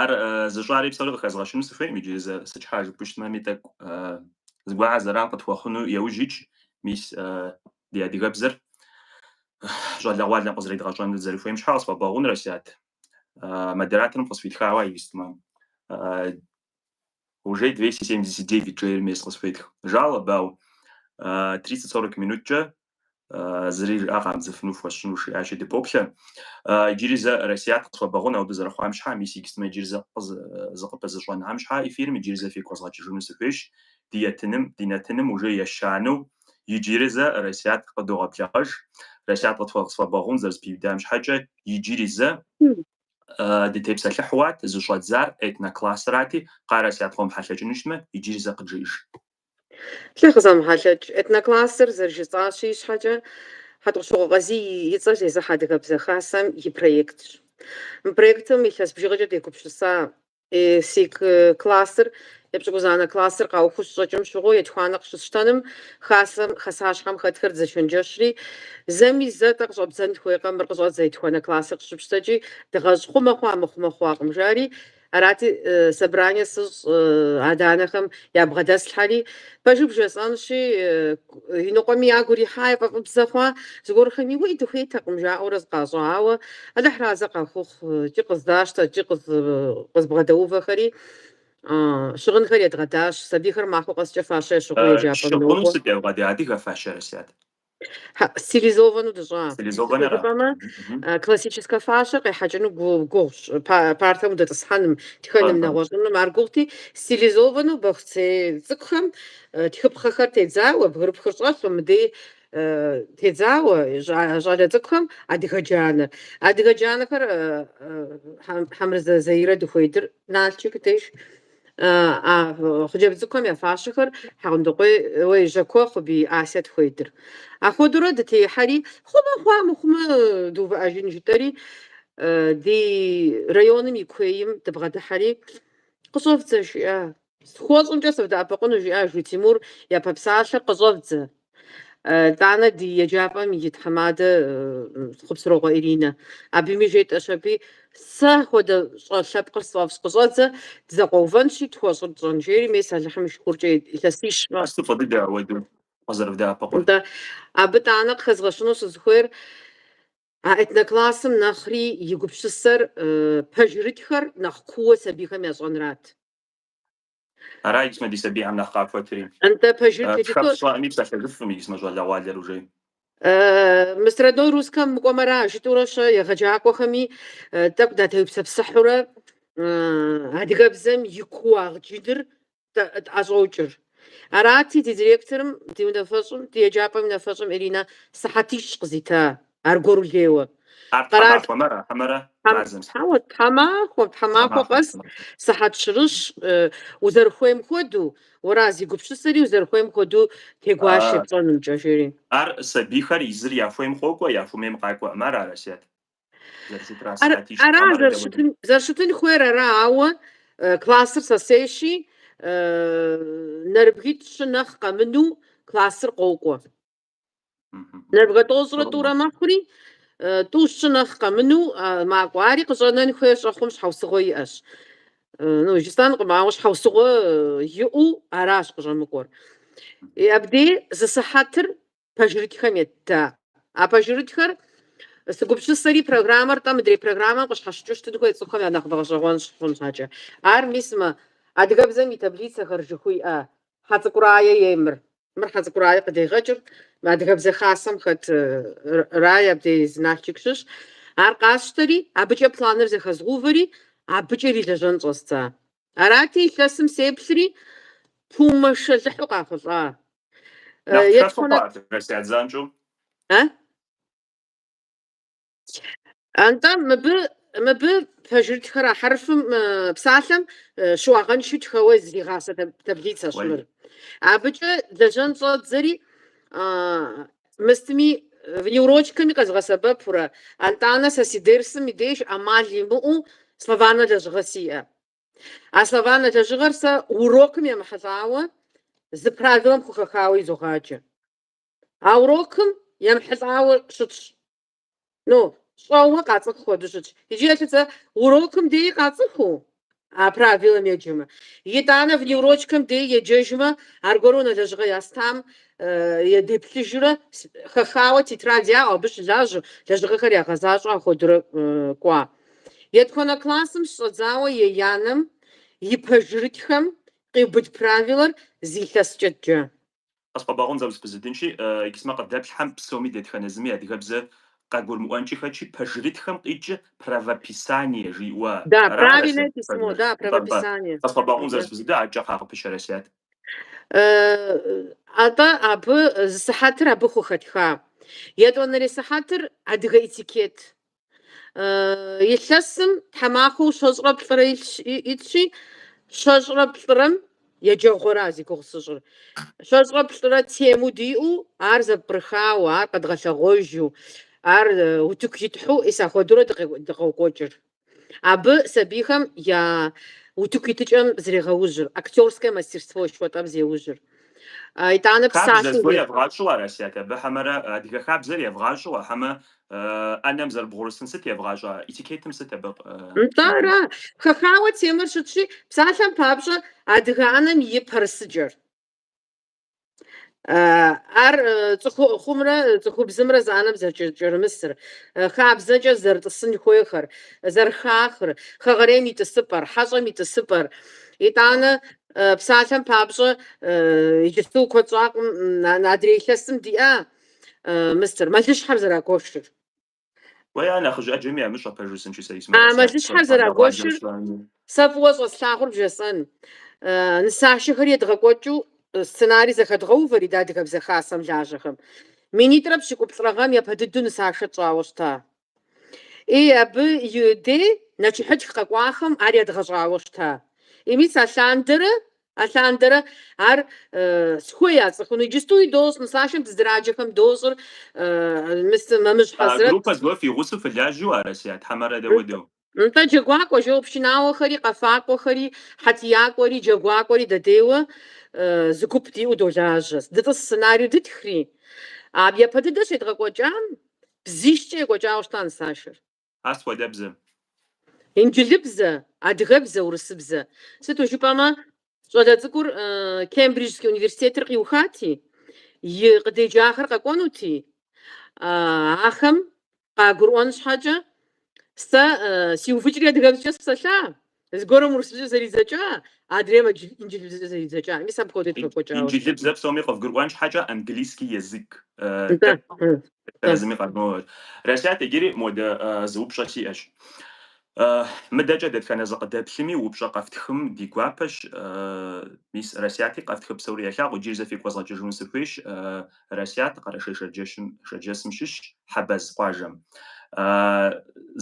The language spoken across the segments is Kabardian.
Ар зыщӏари псори къыхэзгъэщыну сыхуейм иджы зэ сыт щхьэ жыпӏэщтмэми тӏэкӏу зыгуэрхэ зэран къытхуэхъуну еужь икӏ, мис ди адыгэбзэр щӏалэгъуалэм къызэридгъэщӏэну дызэрыхуейм щхьэ къысхуэбэгъун, Расият, модераторым къысфитхауэ а исмэ. Уже 279 жейр мес къысфетх жалобэу, 30-40 минуткӏэ зыри жыӏэ къамыдзыфыну фхуэсщӏынущ, жиӏащи, дыпоплъэ. Иджыри зэ Расият къысхуэбэгъун ауэду зэрыхъуам щхьэ, мис иджыпстмэ иджыри зэ зыкъыпызыщӏэнам щхьэ эфирым иджыри зэ фигу къэзгъэкӏыжыну сыхуейщ. Ди етыным, ди нэтыным уже ещанэу иджыри зэ Расият къыдогъэблэгъэж. Расият къысхуэбэгъун зэрызэпиудам щхьэкӏэ иджыри зэ дытепсэлъыхьуат, зыщӏэдзар этноклассрати, къа Расият къомыхьэлъэкӏыну щытмэ, иджыри зэ къыджиӏэж. Алыхь къызэмыхьэлъэкӏ, этноклассыр зэрыжысӏащи ищхьэкӏэ, Хьэтӏохъущокъуэ Къазий и цӏэр зезыхьэ Адыгэбзэ Хасэм и проектщ. Мы проектым илъэс бжыгъэкӏэ дегупсыса си классыр епщыкӏузанэ классыр къаухыу щыщӏэкӏым щыгъуэ етхуанэ къыщысщтэным Хасэм хасащхьэм хэтхэр дызэчэнджэщри, зэми зэ тӏэ къыщӏэбдзэн хуейкъэ мыр къыщӏэдзэ етхуанэ классыр къыщыпщтэкӏи, дыгъэщӏ хъумэ хъуа мыхъумэ хъуакъым жари, Арати, собрание сыщӏ адэ-анэхэм ябгъэдэслъхьэри, пэжыр бжесӏэнщи, иныкъуэми ягу ирихьа, яфӏэфӏыбзэ хъуа, зыгуэрхэми уей дыхуейтэкъым жаӏэурэ зыкъащӏа, ауэ Алыхь разэ къахухъу, икӏи къыздащтэ, икӏи къызбгъэдэувэхэри, щыгъынхэр едгъэдащ, сабийхэр махуэ къэскӏэ фащэ ящыгъыу еджапӏэм нокӏуэ. Щыгъын сыт ебгъэда, адыгэ фащэ, Расият? Стилизовану дыщӏа? Стилизованэра? Сыт щхьэ жыпӏэмэ, классическэ фащэр къехьэкӏыну гугъущ, партэм удэтӏысхьэным, тхэным, Аха. нэгъуэщӏыным. Ар гугъути, стилизованэу бохуцей цӏыкӏухэм тхыпхъэхэр тедзауэ, бгырыпхыр щӏэлъу, мыдей тедзауэ щӏа- щӏалэ цӏыкӏухэм адыгэ джанэр. Адыгэ джанэхэр Хьэмырзэ Заирэ дыхуедыр Налчик деж. а хъыджэбз цӏыкӏухэм я фащэхэр Хьэгъундыкъуей, ой, Жьакуэ Хъубий Асе тхуедыр. Апхуэдэурэ дытехьэри, хъумэ хъуа, мыхъумэ дыувыӏэжын жытӏэри, ди районым и куейм дыбгъэдыхьэри, Къыщӏэвдзэ, жиӏа. Схуэщӏымкӏэ сывдэӏэпыкъуну, жиӏа, жи Тимур япэ псалъэр, Къыщӏэвдзэ. Тӏанэ ди еджапӏэм и тхьэмадэ Хъупсырокъуэ Иринэ. Абыми жетӏэщ аби, Сэ хуэдэ щӏэ лъэпкъыр сфӏэфӏщ, къыщӏэдзэ, дызэкъуэувэнщи, тхуэщӏыр тщӏэн, жери мес Алыхьым и шыкуркӏэ илъэсищ. Ар сыту фӏы дыдэ ауэду къызэрывдэӏэпыкъур? Нтӏэ, абы Тӏанэ къыхэзгъэщыну сызыхуейр а этноклассым нэхъри и гупсысэр пэжырытхэр нэхъ куууэ сабийхэм ящӏэнрат. Ара икисмэ ди сабийхэм нэхъ къахуэтри. Нтӏэ, пэжыр тетыто? Тхэ пщӏэӏэми псэлъэжыфӏым икисмэ щӏалэгъуалэр уже. Мыст родной русскэм мыкӏуэмэра, жытӏурэ-щэ, егъэджакӏуэхэми тӏэкӏу датеупсэпсыхьурэ адыгэбзэм и кууагъ джыныр тӏэщӏокӏыр. Арати, ди директорым, ди унафэщӏым, ди еджапӏэм и унафэщӏым Иринэ сыхьэтищ къызита Аргуэру лейуэ. Ар тхьэмахуэмэ, хьэмэрэ мазэм сыт? Хьэуэ, тхьэмахуэ, тхьэмахуэ къэс сыхьэт щырыщ, узэрыхуейм хуэдэу, уэра, зи гупсысэри узэрыхуейм хуэдэу тегуашэ епщӏэнумкӏэ, жери. Ар сабийхэр езыр яхуейм къокӏуэ, яхуэмейм къакӏуэӏым, ара, Асият, зэрыщытра сыхьэтищ Ара тхьэмэрэ дэ уэдэ. зэрыщытын, зэрыщытын хуейр ара, ауэ классыр сэ сейщи, нэрыбгитӏ щы нэхъ къэмыну классыр къокӏуэ. Нэрыбгэ тӏощӏрэ тӏурэ мэхъури, тӏу-щы нэхъ къэмыну, макӏуэ. Ари къыщӏэнэн хуей щӏэхъум щхьэусыгъуэ иӏэщ. Ну, жысӏэнкъым, ауэ щхьэусыгъуэ иӏэу аращ къыщӏэмыкӏуэр. И абдей зы сыхьэтыр пэжырытхэм етта. А пэжырытхэр, сыгупсысэри, программэр, тӏэ, мыдрей программэм къыщхьэщыкӏыу щытын хуей цӏыхухэм я нэхъыбэ гъэщӏэгъуэн щыхъун щхьэкӏэ. Ар мис мы адыгэбзэм и таблицэхэр жыхуиӏэ Хьэцӏыкӏу Рае ей мыр. Мыр Хьэцӏыкӏу Рае къыдегъэкӏыр. Адыгэбзэ Хасэм хэт Рае абдей зы Нальчик щыщ. Ар къасщтэри, абыкӏэ планыр зэхэзгъэувэри, абыкӏэ ирилэжьэн щӏэздза. Арати, илъэсым сеплъри, пу, мэшэлыхьу къахъулӏа. Нэхъ пшэфыхъуа адыгэбзэ я занщӏэу? Атӏэ мыбы мыбы пэжырытхэр а хьэрфым псалъэм щыуагъэншэу тхэуэ зригъасэ таблицэщ мыр. Абыкӏэ лэжьэн щӏэздзэри мыстми внеурочкэми къэзгъэсэбэпурэ, атӏанэ сэ си дерсым и деж ӏэмал имыӏэу словарнэ лэжьыгъэ сиӏэ. А словарнэ лэжьыгъэр сэ урокым емыхьэлӏауэ зы правилэм хухэхауэ изогъаджэ. А урокым емыхьэлӏауэ щытщ Ну, щӏэуэ къацӏыху хуэдэу щытщ. Иджы елъытэ урокым деи къацӏыхуу а правилэм еджэмэ. Итӏанэ внеурочкэм деи еджэжмэ, аргуэру унэ лэжьыгъэ ястам е деплъыжурэ, хэхауэ тетрадь яӏэу, абы щылажьэу, лэжьыгъэхэр ягъэзащӏэу ахуэдурэ кӏуа. Етхуанэ классым щыщӏэдзауэ еянэм и пэжырытхэм къиубыд правилэр зы илъэскӏэ. Къысхуэбгъэгъун, зэ узэпызудынщи, икисмэ къыдэплъхэм псоми дэтхэнэ зыми адыгэбзэ къагурымыӏуэнкӏи хэтщи, пэжырытхэм къикӏыр правописание жиӏуэ Да, ара правильное Асият письмо, пэжыр? да, Нтӏэ, нтӏэ. правописание. Къысхуэбгъэгъун Мгм. зэ узэпызуда, адэкӏэ кхъа къыпыщэ, Асият. Э, Атӏэ абы зы сыхьэтыр абы хухэтха. Етӏуанэрей сыхьэтыр адыгэ этикет. Илъэсым тхьэмахуэу щэщӏрэ плӏырэ итщи, щэщӏрэ плӏырэм еджэгъуэра зи гугъу сыщӏыр. Щэщӏрэ плӏырэ тему диӏэу, ар зэпкърыхауэ, ар къэдгъэлъэгъуэжу, ар утыку итхьэу мис апхуэдэурэ дыкъокӏуэкӏыр. Абы сабийхэм я утыку итыкӏэм зрегъэужьыр, актерскэ мастерство жыхуэтӏэм зеужьыр. Итӏанэ псалъэм... Хабзэ зыгуэр евгъащӏэу ара, Расият, абы хьэмэрэ адыгэ хабзэр евгъащӏэу а хьэмэ ӏэнэм зэрыбгъурысын сыт евгъащӏэ? Этикетым сыт абы? Нтӏэ, ара? Хэхауэ темэр щытщи, псалъэм папщӏэ, адыгэ ӏэнэм и пэрысыкӏэр. Ар цӏыхухъумрэ цӏыхубзымрэ зы ӏэнэм зэрыкӏэрымысыр, хабзэкӏэ зэрытӏысын хуейхэр, зэрыхахыр, хэгъэрейм и тӏысыпӏэр, хьэщӏэм и тӏысыпӏэр. Итӏанэ Псалъэм папщӏэ, иджыпсту куэд щӏакъым адрей илъэсым диӏа, мыстер, мэлыщхьэр зэрагуэшыр. Уэ я нэхъыжь ӏэджэми ямыщӏэ пэж жысӏэнщи сэ исмэ А, мэлыщхьэр къэсащ, къэбгъэлъагъуэ зэрагуэшыр адрейр щӏами. сэ фӏыуэ щӏэслъагъур бжесӏэн. Э, Нысашэхэр едгъэкӏуэкӏыу э, сценарий зэхэдгъэувэри дэ Адыгэбзэ Хасэм лажьэхэм. Минитӏрэ пщыкӏуплӏрэ гъэм япэ дыдэу нысашэ тщӏауэ щыта. Ий, абы и дей нэчыхьытх къэкӏуахэм ар едгъэщӏауэ щыта. Ий, мис алъандэрэ, алъандэрэ ар схуей яцӏыхуну, иджыстуи дощӏ, нысашэм дызыраджэхэм дощӏыр, мис Мэмыщ Хьэзрэт. Группэ зыгуэр фи гъусэу фылажьэу ара, Расият, хьэмэрэ дэ хуэдэу? Нтӏэ, джэгуакӏуэ, жо пшынауэхэри, къэфакӏуэхэри, хьэтиякӏуэри, джэгуакӏуэри дэдейуэ зы гуп диӏэу долажьэ. Дытӏыс сценарию дытхри, а япэ дыдэ щедгъэкӏуэкӏам бзищкӏэ екӏуэкӏауэ щыта нысашэр. Ар сыт хуэдэ бзэ? Инджылыбзэ, адыгэбзэ, урысыбзэ. Сыту жыпӏэмэ, Щӏалэ цӏыкӏур Кембриджский университетыр къиухати, и къыдеджахэр къэкӏуэнути, ахэм къагурыӏуэн щхьэкӏэ, Сэ сиувыкӏри адыгэбзэкӏэ сыпсэлъа, зыгуэрым урысыбзэкӏэ зэридзэкӏа, адрейм инджылыбзэкӏэ зэридзэкӏа. Мис апхуэдэу тхуекӏуэкӏауэ. Инджылыбзэ псоми къывгурыӏуэн щхьэкӏэ английский язык. Зыми къыгурымыӏуэ. Расият, иджыри модэ зы упщӏэ сиӏэщ. Мыдэкӏэ дэтхэнэ зы къыдэплъми, упщӏэ къэфтхым ди гуапэщ. Мис Расияти къэфтхы псори елъагъу. Иджыри зэ фигу къэзгъэкӏыжыну сыхуейщ. Расият Къэрэшей-Шэрджэщым, Шэрджэсым щыщщ, Хьэбэз къуажэм.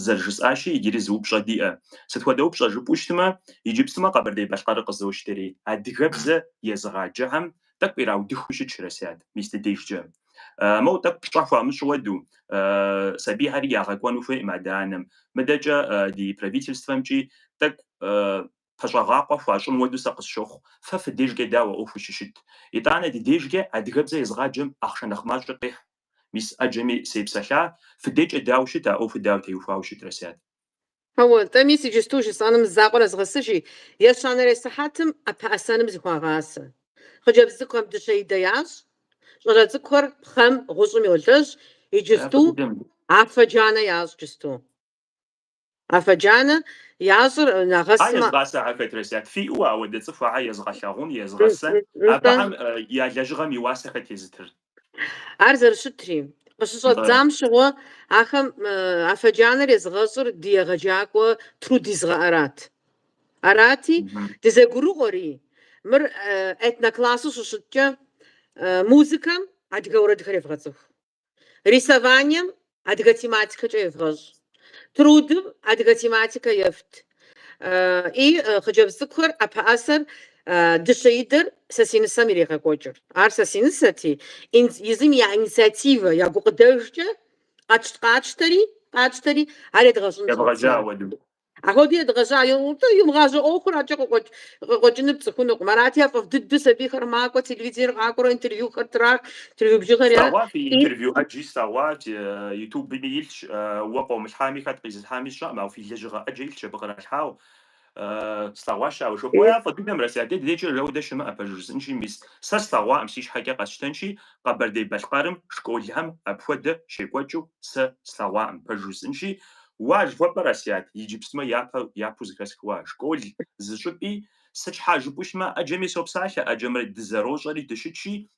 Зэрыжысӏащи, иджыри зы упщӏэ диӏэ. Сыт хуэдэ упщӏэ жыпӏэу щытмэ, иджыпстумэ Къэбэрдей-Балъкъэрыр къызощтэри, адыгэбзэ езыгъаджэхэм тӏэкӏу ираудыхыу щытщ, Расият, мис ди дежкӏэ. Моу тӏэкӏу пщӏэ хуамыщӏу уэду, сабийхьэри ягъэкӏуэну хуейкъым адэ-анэм. Мыдэкӏэ ди правительствэмкӏи тӏэкӏу пэщӏэгъакъуэ хуащӏын уэду сэ къысщохъу. Фэ фи дежкӏэ дауэ ӏуэхур щыщыт? Итӏанэ ди дежкӏэ адыгэбзэ езыгъаджэм ахъшэ нэхъ мащӏэ къехь. Мис ӏэджэми сепсэлъа, фыдекӏэ дауэ щыт, а ӏуэхур дауэ теухуауэ щыт, Расият? Ауэ, тӏэ, мис иджысту жысӏэным закъуэр нэзгъэсыжи, ещанэрей сыхьэтым ӏэпэӏэсэным зыхуагъасэ. Хъыджэбз цӏыкӏухэм дыщэ идэ ящӏ, щӏалэ цӏыкӏухэр пхъэм, гъущӏым йолэжь, иджысту афэ джанэ ящӏ, джысту афэ джанэ ящӏыр нэгъэсмэ. Ар езыгъасэхэр хэт, Расият, фиӏэу ауэдэ цӏыхухьэр езыгъэлъагъун, езыгъэсэн, абыхэм я лэжьыгъэм и уасэ хэт езытыр? Ар зэрыщытри, къыщыщӏэддзам щыгъуэ ахэм афэджанэр езыгъэщӏыр ди егъэджакӏуэ труд езыгъэхьырат. Арати, дызэгурыӏуэри, мыр этноклассу щыщыткӏэ, музыкэм адыгэ уэрэдхэр евгъэцӏыху, рисованием адыгэ тематикэкӏэ евгъэщӏ. Трудым адыгэ тематикэ ефт. И хъыджэбз цӏыкӏухэр ӏэпэӏэсэр дыщэ идэр сэ си нысэм ирегъэкӏуэкӏыр. Ар сэ си нысэти, езым я инициативэ, я гукъыдэжкӏэ къэтщт-къатщтэри, къатщтэри, ар едгъэщӏын щӏэддзат. Едгъэжьа уэду. Апхуэдэу едгъэжьа. Йомыгъажьэу ӏуэхур аркӏэ къыкъуэкӏынур пцӏыхунукъым. Арати, яфӏэфӏ дыдэу сабийхэр макӏуэ, телевизор къакӏуэрэ интервьюхэр трах, интервью бжыгъэр яӏэ. Слъэгъуат фи интервью ӏэджи, слъэгъуат. Ютубми илъщ, уэ къыумылъхьами, хэт къизылъхьами сщӏэкъым, ауэ фи лэжьыгъэ ӏэджэ илъщ абы къралъхьауэ. Слъэгъуащ ауэ жо. Уэ яфӏэ дыдэм Расият, дэ ди дежкӏэ жэуэ дэ щымыӏэ, пэжу жысӏэнщи, мис сэ слъэгъуакъым, си щхьэкӏэ къэсщтэнщи, Къэбэрдей-Балъкъэрым школхэм апхуэдэ щекӏуэкӏыу сэ слъэгъуакъым, пэжу жысӏэнщи, Уа жыхуэпӏэр, Расият, иджыпсмэ япэ, япэу зыхэсхыу а, школ зыщӏыпӏи, сыт щхьа жыпӏэу щытмэ, ӏэджэми сопсалъэ, ӏэджэмрэ дызэрощӏэри дыщытщи,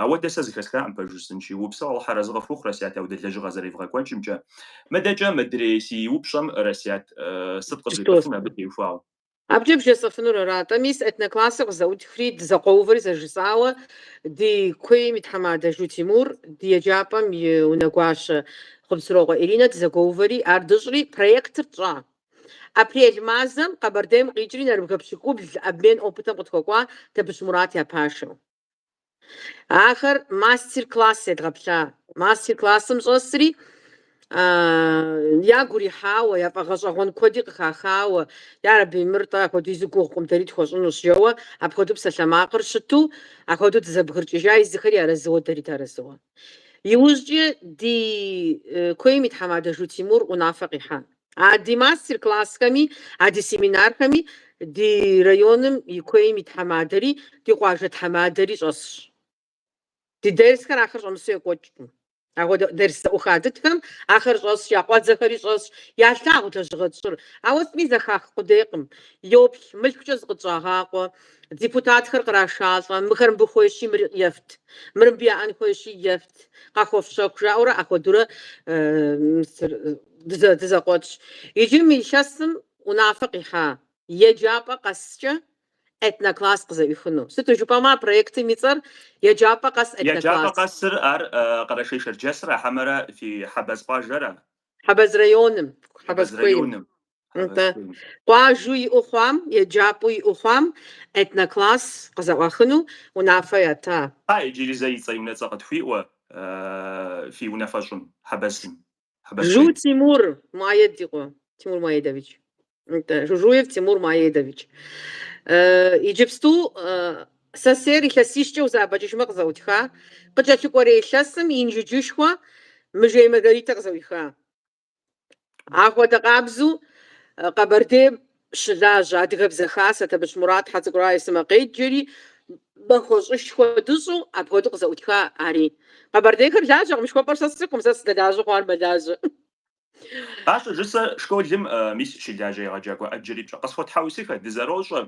ауэдэ сэ зыхэсхакъым пэж жысӏынщи. Упсэу, Алыхь арэзы къыфхухъу, Расият, ауэдэ лэжьыгъэ зэревгъэкӏуэкӏымкӏэ. Мыдэкӏэ, мыдрей си упщӏэм, Расият, сыт къызжепӏэфын абы теухуауэ? Абыкӏэ бжесӏэфынур ара-тӏэ, мис этноклассыр къызэӏутхри, дызэкъуэувэри зэрыжысӏауэ, ди куейм и тхьэмадэ Жу Тимур, ди еджапӏэм и унэгуащэ Хъупсырокъуэ Иринэ дызэгуэувэри, ар дыщӏри, проектыр тщӏа. Апрель мазэм Къэбэрдейм къикӏри, нэрыбгэ пщыкӏубл обмен опытым къытхуэкӏуа Табыщ Мурат я пашэу. Ахэр мастер-класс едгъэплъа. Мастер-классым щӏэсри, ягу ирихьауэ, яфӏэгъэщӏэгъуэн куэди къыхахауэ, Ярэби, мыр тӏэ апхуэдизу гугъукъым, дэри тхуэщӏынущ, жэуэ апхуэдэу псалъэмакъыр щыту, апхуэдэу дызэбгыркӏыжа езыхэри арэзыуэ, дэри дыарэзыуэ. Иужькӏэ ди куейм и тхьэмадэ Жу Тимур унафэ къихьа. А ди мастер-классхэми, а ди семинархэми ди районым и куейм и тхьэмадэри, ди къуажэ тхьэмадэри щӏэсщ. Ди дерсхэр ахэр щӏэмысу екӏуэкӏкъым. Ахуэдэ дерс зэӏуха дытхэм ахэр щӏэсщ, я къуэдзэхэри щӏэсщ, ялъагъу лэжьыгъэ тщӏыр. Ауэ сытми зэхах къудейкъым. Йоплъ, мылъкукӏэ зыкъытщӏагъакъуэ. Депутатхэр кърашалӏэ, мыхэр мыбы хуейщи, мыр ефт, мыр мыбы яӏэн хуейщи, ефт, къахуэфщэху, жаӏэурэ ахуэдурэ Дызэ, дызэкъуэтщ. Иджы мы илъэсым унафэ къихьа еджапӏэ къэскӏэ этнокласс къызэӏуихыну. Сыту жыпӏэмэ, а проектым и цӏэр Еджапӏэ къэс Еджапӏэ этнокласс. къэсыр ар э, Къэрэшей-Шэрджэсрэ, хьэмэрэ фи Хьэбэз къуажэрэ? Хьэбэз районым, Хьэбэз Хьэбэз куейм. районым. Нтӏэ. Хьэбэз куейм. Къуажэу иӏэу хъуам, еджапӏэу иӏэу хъуам этнокласс къызэӏуахыну унафэ ята. Хьа, иджыри зэ и цӏэ и унэцӏэ къытхуиӏуэ э, фи унафэщӏым, Хьэбэзым. Жу Тимур Муаедикъуэ, Тимур Муаедович. Это Жужуев Тимур Муаедович. Э, Иджыпсту э, сэсейр илъэсищкӏэ узэӏэбэкӏыжмэ къызэӏутха, къыкӏэлъыкӏуэрей илъэсым Инжыджышхуэ Мыжей Маргаритэ къызэӏуиха. Ахуэдэ къабзу э, Къэбэрдейм щылажьэ Адыгэбзэ хасэ, Табыщ Мурат, Хьэцӏыкӏу Рае сымэ къеджэри, махуэщӏышхуэ дыщӏу, апхуэдэу къызэӏутха ари. Къэбэрдейхэр лажьэкъым жыхуэпӏэр сэ сцӏыхукъым, сэ сыдэлажьэ хъуар мэлажьэ. Ар щӏыжысӏэ школым, мис щылажьэ егъэджакӏуэ ӏэджэри пщӏэ къысхуэтхьэусыхэ, дызэрощӏэ.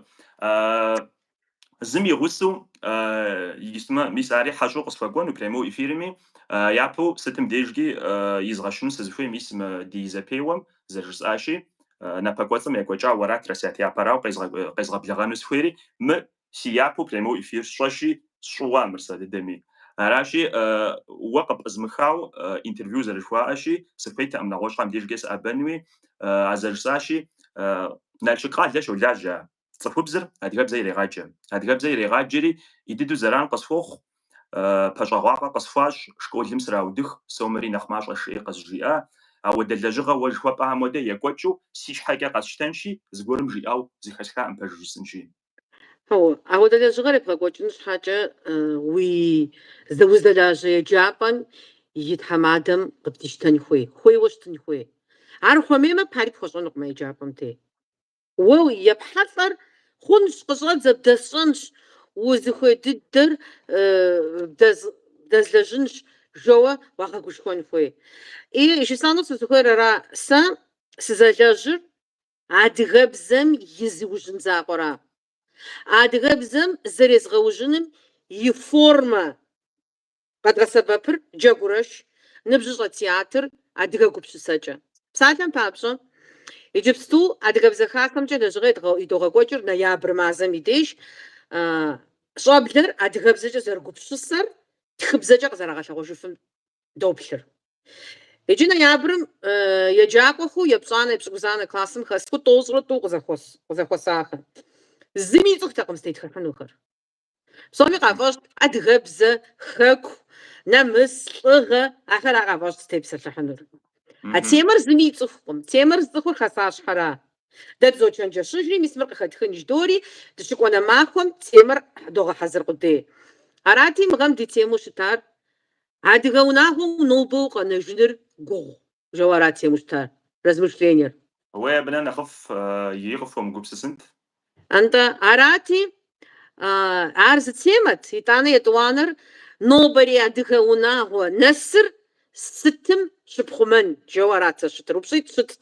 Зым и гъусэу, исмэ, мис ари хьэщӏэу къысхуэкӏуэну прямой эфирми, япэу сытым дежкӏи изгъэщыну сызыхуей, мис мы ди зэпеуэм зэрыжысӏащи, напэкӏуэцӏым екӏуэкӏа уэрат, Расият, япэрауэ къезгъэблэгъэну сыхуейри, мы си япэу прямой эфир сщӏэщи, сщӏыуа мыр сэ дыдэми. Аращи, уэ къыпӏызмыхау интервью зэрыжыхуаӏэщи, сыхуейтэӏым нэгъуэщӏхэм дежкӏэ сыӏэбэнуи, а зэрыжысӏащи, Налшык къалэ щолажьэ цӏыхубзыр адыгэбзэ ирегъаджэ. Адыгэбзэ ирегъаджэри ин дыдэу зэран къысхуохъу, пэщӏэгъуапӏэ къысхуащӏ, школым сраудых, сомэри нэхъ мащӏэщ, жиӏи къызжиӏа, ауэдэ лэжьыгъэ уэ жыхуэпӏам хуэдэ екӏуэкӏыу си щхьэкӏэ къэсщтэнщи, зыгуэрым жиӏэу зыхэсхаӏым пэж жысӏынщи. Хьэуэ, ауэдэ лэжьыгъэр ебгъэкӏуэкӏын щхьэкӏэ уи уздэлажьэ еджапӏэм и тхьэмадэм къыбдищтэн хуей, хуейуэ щытын хуей. Ар хуэмеймэ, пари пхуэщӏэнукъым а еджапӏэм дей. Уэ епхьэлӏэр хъунщ, къыщӏэдзэ, бдэсщӏэнщ, узыхуей дыдэр бдэзлэжьынщ, жоуэ уагъэгушхуэн хуей. И жысӏэну сызыхуейр ара, сэ сызэлэжьыр адыгэбзэм и зыужьын закъуэра. Адыгэбзэм зэрезгъэужьыным и формэ Къэдгъэсэбэпыр Джэгурэш ныбжьыщӏэ театр адыгэ гупсысэкӏэ. Псалъэм папщӏэ, иджыпсту Адыгэбзэ Хасэмкӏэ лэжьыгъэ идогъэкӏуэкӏыр ноябрь мазэм и деж щӏэблэр адыгэбзэкӏэ зэрыгупсысэр тхыбзэкӏэ къызэрагъэлъэгъуэжыфым доплъыр. Иджы ноябрым еджакӏуэхэу епщӏанэ-епщыкӏузанэ классым хэсхыу тӏощӏрэ тӏу къызэхуэсахэм зыми ицӏыхутэкъым зытетхыхьынухэр. Псоми къафӏэщӏт адыгэбзэ, хэку, нэмыс, лӏыгъэ, ахэр ар къафӏэщӏт зытепсэлъыхьынур. А темэр зыми ицӏыхукъым. Темэр зыцӏыхур Хасащхьэра. Дэ дызочэнджэщыжри, мис мыр къыхэтхын ждори, дыщыкӏуэнэ махуэм темэр догъэхьэзыр къудей. Арати, мы гъэм ди темэу щытар Адыгэ унагъуэу нобэ укъэнэжыныр гугъу. Жэуэ арат темэу щытар, размышлениер. Уей абы нэ нэхъыфӏ ии къыфхуэмыгупсысынт. Антӏэ, арати, ар зы темэт. Итӏанэ етӏуанэр нобэрей адыгэ унагъуэ нэсыр сытым щыпхъумэн? Жэуэ арат зэщытыр упщӏитӏ щытт.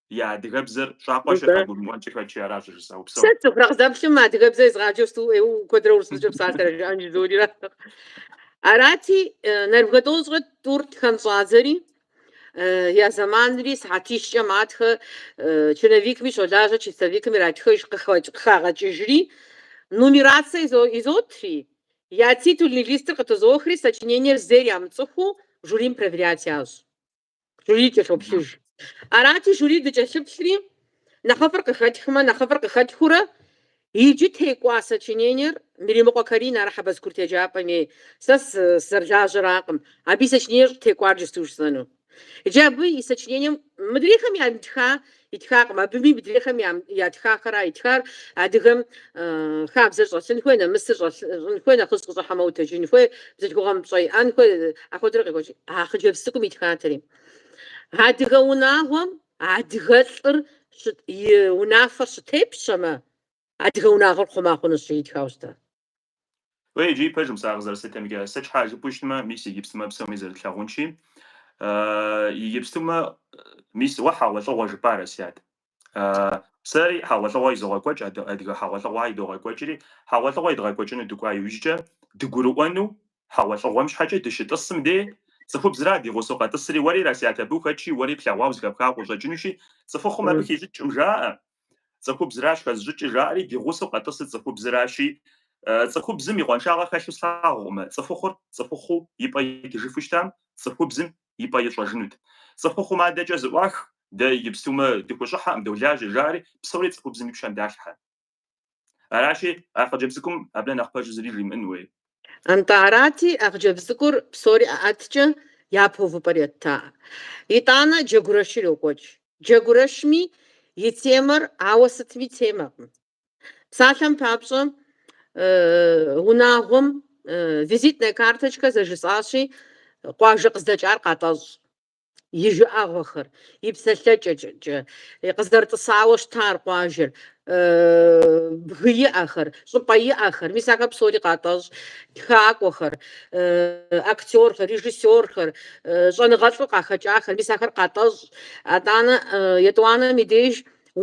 я адыгэбзэр щӏакъуэщи къагурымыӏуэнкӏи хэкӏи аращ жысӏэу псом. Сэ цӏыхур къызэплъым адыгэбзэ езгъаджэу сту ӏейуэ куэдрэ урысыбзэкӏэ псалъэр жаӏэн жызорира. Арати, э, нэрыбгэ тӏощӏрэ тӏур тхэн щӏадзэри, э, я зэманри сыхьэтищкӏэ матхэ, э, черновикми щолажьэ, чистовикым иратхэж, къыхэкӏ- къыхагъэкӏыжри, нумерацэ изо- изотри, я титульный листыр къытызохри, сочинениер зейр ямыцӏыхуу жюрим проверять ящӏ. Жюри кӏэлъоплъыж. Арати, жюри дыкӏэлъыплъри, нэхъыфӏыр къыхэтхмэ, нэхъыфӏыр къыхэтхыурэ, иджы текӏуа сочинениер Миримыкъуэ Каринэ ар Хьэбэз курыт еджапӏэм ей, сэ сызэрылажьэракъым, абы и сочинениер щӏытекӏуар иджыпсту жысӏэну. Иджы абы и сочинением мыдрейхэм ямытха Итхакъым. Абыми мыдрейхэм ятхахэра итхар, адыгэм хабзэр щӏэлъын хуей, нэмысыр щӏэлъын хуей, нэхъыжь къыщӏыхьэмэ утэджын хуей, бзылъхугъэм пщӏэ иӏэн хуей, ахуэдэрэ къекӏуэкӏ. А хъыджэбз цӏыкӏум итхатэри. Адыгэ унагъуэм адыгэ лӏыр и унафэр щытепщэмэ, адыгэ унагъуэр хъума хъунущ итхауэ щытар. Уей, иджы и пэжым сэ а къызэрыслъытэмкӏэ. Сыт щхьэ жыпӏэу щытмэ, мис иджыпстумэ псоми зэрытлъагъунщи, иджыпстумэ, мис уэ хьэгъуэлӏыгъуэ жыпӏа, Расият. Сэри хьэгъуэлӏыгъуэ изогъэкӏуэкӏ, адыгэ хьэгъуэлӏыгъуэ идогъэкӏуэкӏри, хьэгъуэлӏыгъуэ идгъэкӏуэкӏыну дыкӏуа иужькӏэ, дыгурыӏуэну хьэгъуэлӏыгъуэм щхьэкӏэ дыщытӏысым де, цӏыхубзра ди гъусэу къэтӏысри, уэри, Расият, абы ухэтщи, уэри плъэгъуауэ, зыхэпхауэ къыщӏэкӏынущи, цӏыхухъум абы хищӏыкӏкъым жаӏэ, Цӏыхубзращ хэзыщӏыкӏыр, жаӏэри ди гъусэу къэтӏысыр цӏыхубзращи, цӏыхубзым и къуаншагъэ хэлъу слъагъукъымэ, цӏыхухъур цӏыхухъуу и пӏэ итыжыфу щытам, цӏыхубзым и пӏэ ищӏэжынут. Цӏыхухъум адэкӏэ зыӏуах, дэ иджыпстумэ дыхущӏыхьэкъым, долажьэ, жаӏэри псори цӏыхубзым и пщэм далъхьэ. Аращи, а хъыджэбз цӏыкӏум абы нэхъ пэжу зыри жимыӏэн хуей. Атӏэ арати, а хъыджэбз цӏыкӏур псори ӏэӏэткӏэ япэ увыпӏэр еттаӏэ. Итӏанэ джэгурэшыр йокӏуэкӏ. Джэгурэшми и темэр ауэ сытми темэкъым. Псалъэм папщӏэ, унагъуэм Визитная карточка зэжысӏащи, къуажэ къыздэкӏар къатӏэщӏ. и жыӏэгъуэхэр, и псэлъэкӏэкӏэ къызэрытӏысауэ щытар къуажэр, бгы иӏэхэр, щӏыпӏэ иӏэхэр, мис ахэр псори къатӏэщӏ, тхакӏуэхэр, актерхэр, режиссерхэр, щӏэныгъэлӏу къахэкӏахэр, мис ахэр къатӏэщӏ. Атӏанэ етӏуанэм и деж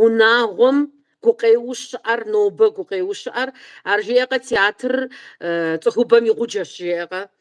унагъуэм гукъеуэу щыӏэр, нобэ гукъеуэу щыӏэр, ар жеӏэкъэ, театрыр цӏыхубэм и гъуджэщ жеӏэкъэ.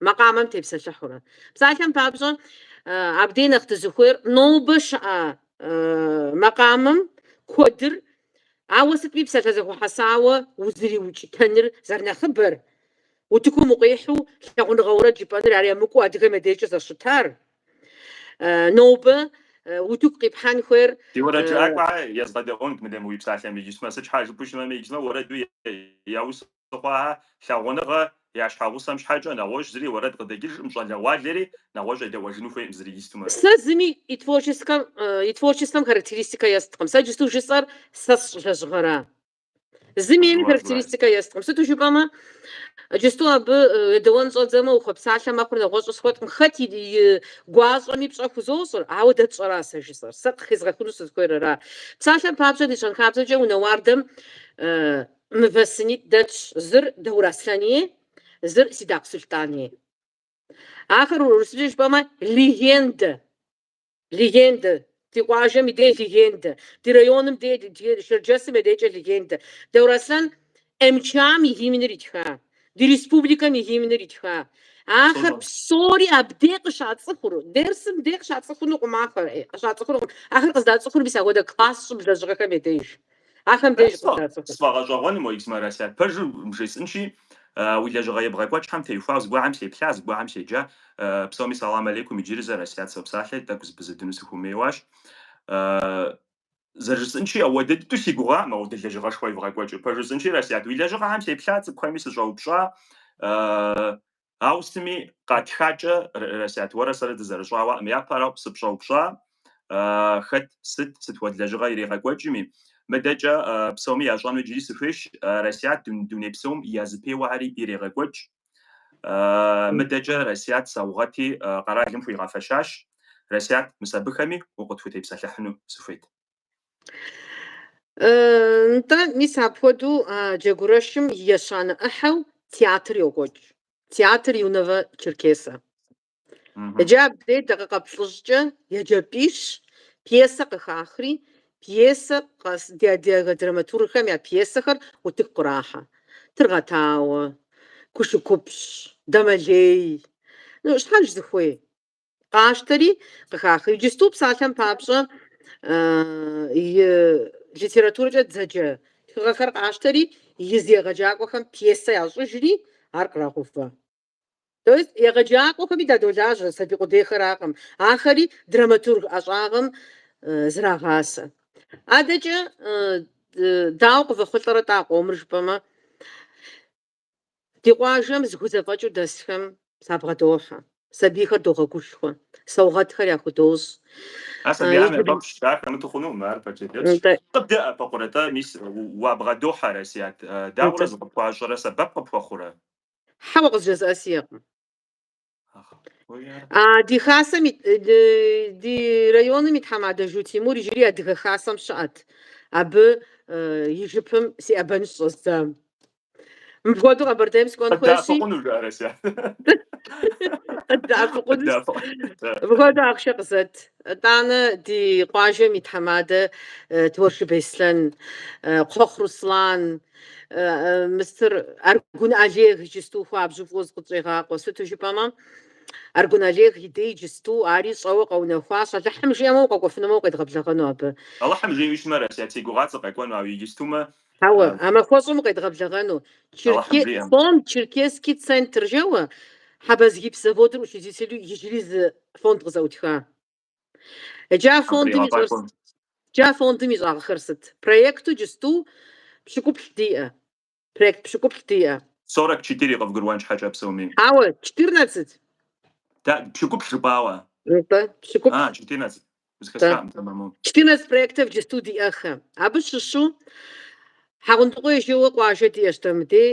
макъамэм тепсэлъыхьурэ. Псалъэм папщӏэ, абдей нэхъ дызыхуейр нобэ щыӏэ макъамэм куэдыр, ауэ сытми псалъэ зэхуэхьэсауэ узыриукӏытэныр зэрынэхъыбэр, утыкум укъихьу лъагъуныгъэ уэрэд жыпӏэныр ар емыкӏуу адыгэм я дежкӏэ зэщытар, нобэ утыку къипхьэн хуейр. Ди уэрэд жыӏакӏуэ езгъэдэӏуэнт, мыдэ мы уи псалъэм иджысмэ, сыт щхьа жыпӏу щымэми, иджысмэ уэрэду яус хъуа лъагъуныгъэ я щхьэгъусэм щхьэкӏэ нэгъуэщӏ зыри уэрэд къыдэкӏыжкъым, щӏалэгъуалэри нэгъуэщӏ едэӏуэжыну хуейкъым зыри истумэ. Сэ зыми и творческэм, и творчествэм характеристикэ есткъым. Сэ иджысту жысӏэр сэ сщӏ лэжьыгъэра. Зыми ейми характеристикэ есткъым. Сыту жыпӏэмэ, иджысту абы едэуэн щӏэдзэмэ, ухуэпсалъэ мэхъур нэгъуэщӏу схуэткъым. Хэт и гуащӏэми пщӏэ хузощӏыр, ауэ дэ тщӏэра сэ жысӏэр. Сэ къыхезгъэхыну сызыхуейр ара. Псалъэм папщӏэ, ди щэнхабзэкӏэ унэ уардэм Мывэ сынитӏ дэтщ, зыр Даур Аслъэни, зыр Сидакъ Сулътӏани. Ахэр урысыбзэу жыпӏэмэ легендэ, легендэ, ди къуажэм и дей легендэ, ди районым дей, ди Шэрджэсым я дейкӏэ легендэ. Даур Аслъэн МЧА-м и гимныр итха, ди республикэм и гимныр итха. Ахэр псори абдей къыщацӏыхур, дерсым дей къыщацӏыхунукъым ахэр, къыщацӏыхунукъым. Ахэр къыздацӏыхур мис ахуэдэ класс щӏыб лэжьыгъэхэм я деж. Ахэм деж къыщацӏыху. Сфӏэгъэщӏэгъуэну, мо исмэ, Расят, пэжу бжесӏынщи, уи лэжьыгъэ ебгъэкӏуэкӏхэм теухуауэ зыгуэхэм сеплъа, зыгуэхэм седжа. Псоми салам алейкум, иджыри зэ Расят сопсалъэ, тӏэкӏу зэпызудыну сыхуэмейуащ. Зэрыжысӏынщи, ахуэдэ дыдэу си гугъам ахуэдэ лэжьыгъэшхуэ евгъэкӏуэкӏыу. Пэж жысӏынщи, Расят, уи лэжьыгъэхэм сеплъа, цӏыкӏухэми сыщӏэупщӏа. Ауэ сытми къатхакӏэ, Расят, уэрэ сэрэ дызэрыщӏауэкъым. Япэрауэ сыпщӏэупщӏа, хэт, сыт, сыт хуэдэ лэжьыгъэ иригъэкӏуэкӏми. Мыдэкӏэ псоми ящӏэну иджыри сыхуейщ, Расят, дуней псом я зэпеуэхэри ирегъэкӏуэкӏ. Мыдэкӏэ, Расят, саугъэти къэралым хуигъэфэщащ. Расят, мис абыхэми укъытхутепсэлъыхьыну сыхуейт. Нтӏэ, мис апхуэдэу Джэгурэшым и ещанэ ӏыхьэу театр йокӏуэкӏ, Театр юного Черкеса. Иджы абдей дакъикъэ плӏыщӏкӏэ еджапӏищ пьесэ къыхахри, пьесэ къэс ди адыгэ драматургхэм я пьесэхэр утыку кърахьэ. Тыргъэтауэ, Кушыкупщ, Дамэлей. Ну, щхьэж зыхуей? къащтэри къыхахри. Иджысту псалъэм папщӏэ и литературэкӏэ дызэджэ тхыгъэхэр къащтэри, езы егъэджакӏуэхэм пьесэ ящӏыжри, ар кърагъэувэ. То есть егъэджакӏуэхэми дадолажьэ, сабий къудейхэракъым, ахэри драматург ӏэщӏагъэм зрагъасэ. Адэкӏэ дауэ къывэхъулӏэрэ-тӏэ а къомыр жыпӏэмэ? Ди къуажэм зыхузэфӏэкӏыу дэсхэм сабгъэдохьэ, сабийхэр догъэгушхуэ, саугъэтхэр яхудощӏ. Ар сабийхэм яфӏэфӏщ, ар хэмыту хъунукъым, ар пэж дыдэщ. Къыбдэӏэпыкъурэ-тӏэ, мис уабгъэдохьэ, Расият, дауэрэ зыкъыпхуащӏэрэ сэбэп къыпхуэхъурэ? Хьэуэ къызжезыӏэ сиӏэкъым. Ди хасэм ди районым и тхьэмадэ Жу Тимур иджыри Адыгэ Хасэм щыӏэт. Абы и жыпым сиӏэбэныр щӏэздзам. Мыпхуэдэу Къэбэрдейм сыкӏуэн хуейщи. Къыддэӏэпыкъуну жыӏэ, Расият? Къыддэӏэпыкъунущ. Мыпхуэдэу ахъшэ къызэт. Итӏанэ ди къуажэм и тхьэмадэ Туаршы Беслъэн, Кхъуэхъу Руслан, мыстыр Аргун Олег иджысту хуабжьу фӏыуэ зыкъытщӏегъакъуэ. Сыту жыпӏэмэ, Аргун Олег и дей иджысту ари щӏэуэ къэунэхуащ, Алыхьым жиӏэмэ укъэкӏуэфынумэ укъедгъэблэгъэну абы. Алыхьым жиӏэу щымэ, Расият, си гугъат сыкъэкӏуэну, ауэ иджыстумэ. Ауэ, а махуэщӏым укъедгъэблэгъэну. Алыхьым жиӏэм. Фонд Черкесский центр жэуэ, Хьэбэзгипс заводыр учредителу иджыри зы фонд къызэӏутха. Джы а фондым ищӏэр сыт? Джы а фондым ищӏагъэхэр сыт? Проекту джысту пщыкӏуплӏ диӏэ. Проект пщыкӏуплӏ диӏэ. 44 къывгурыӏуэн щхьэкӏэ псоми. Хьэуэ, 14. Тэ, пщыкӏуплӏ жыпӏауэ. Нтӏэ, пщыкӏуплӏ. А, 14. Узыхэсхакъым, тэмэму. 14 проектов джысту диӏэхэ. Абы щыщу Хьэгъундыкъуей жэуэ къуажэ диӏэщ дэ мыдей,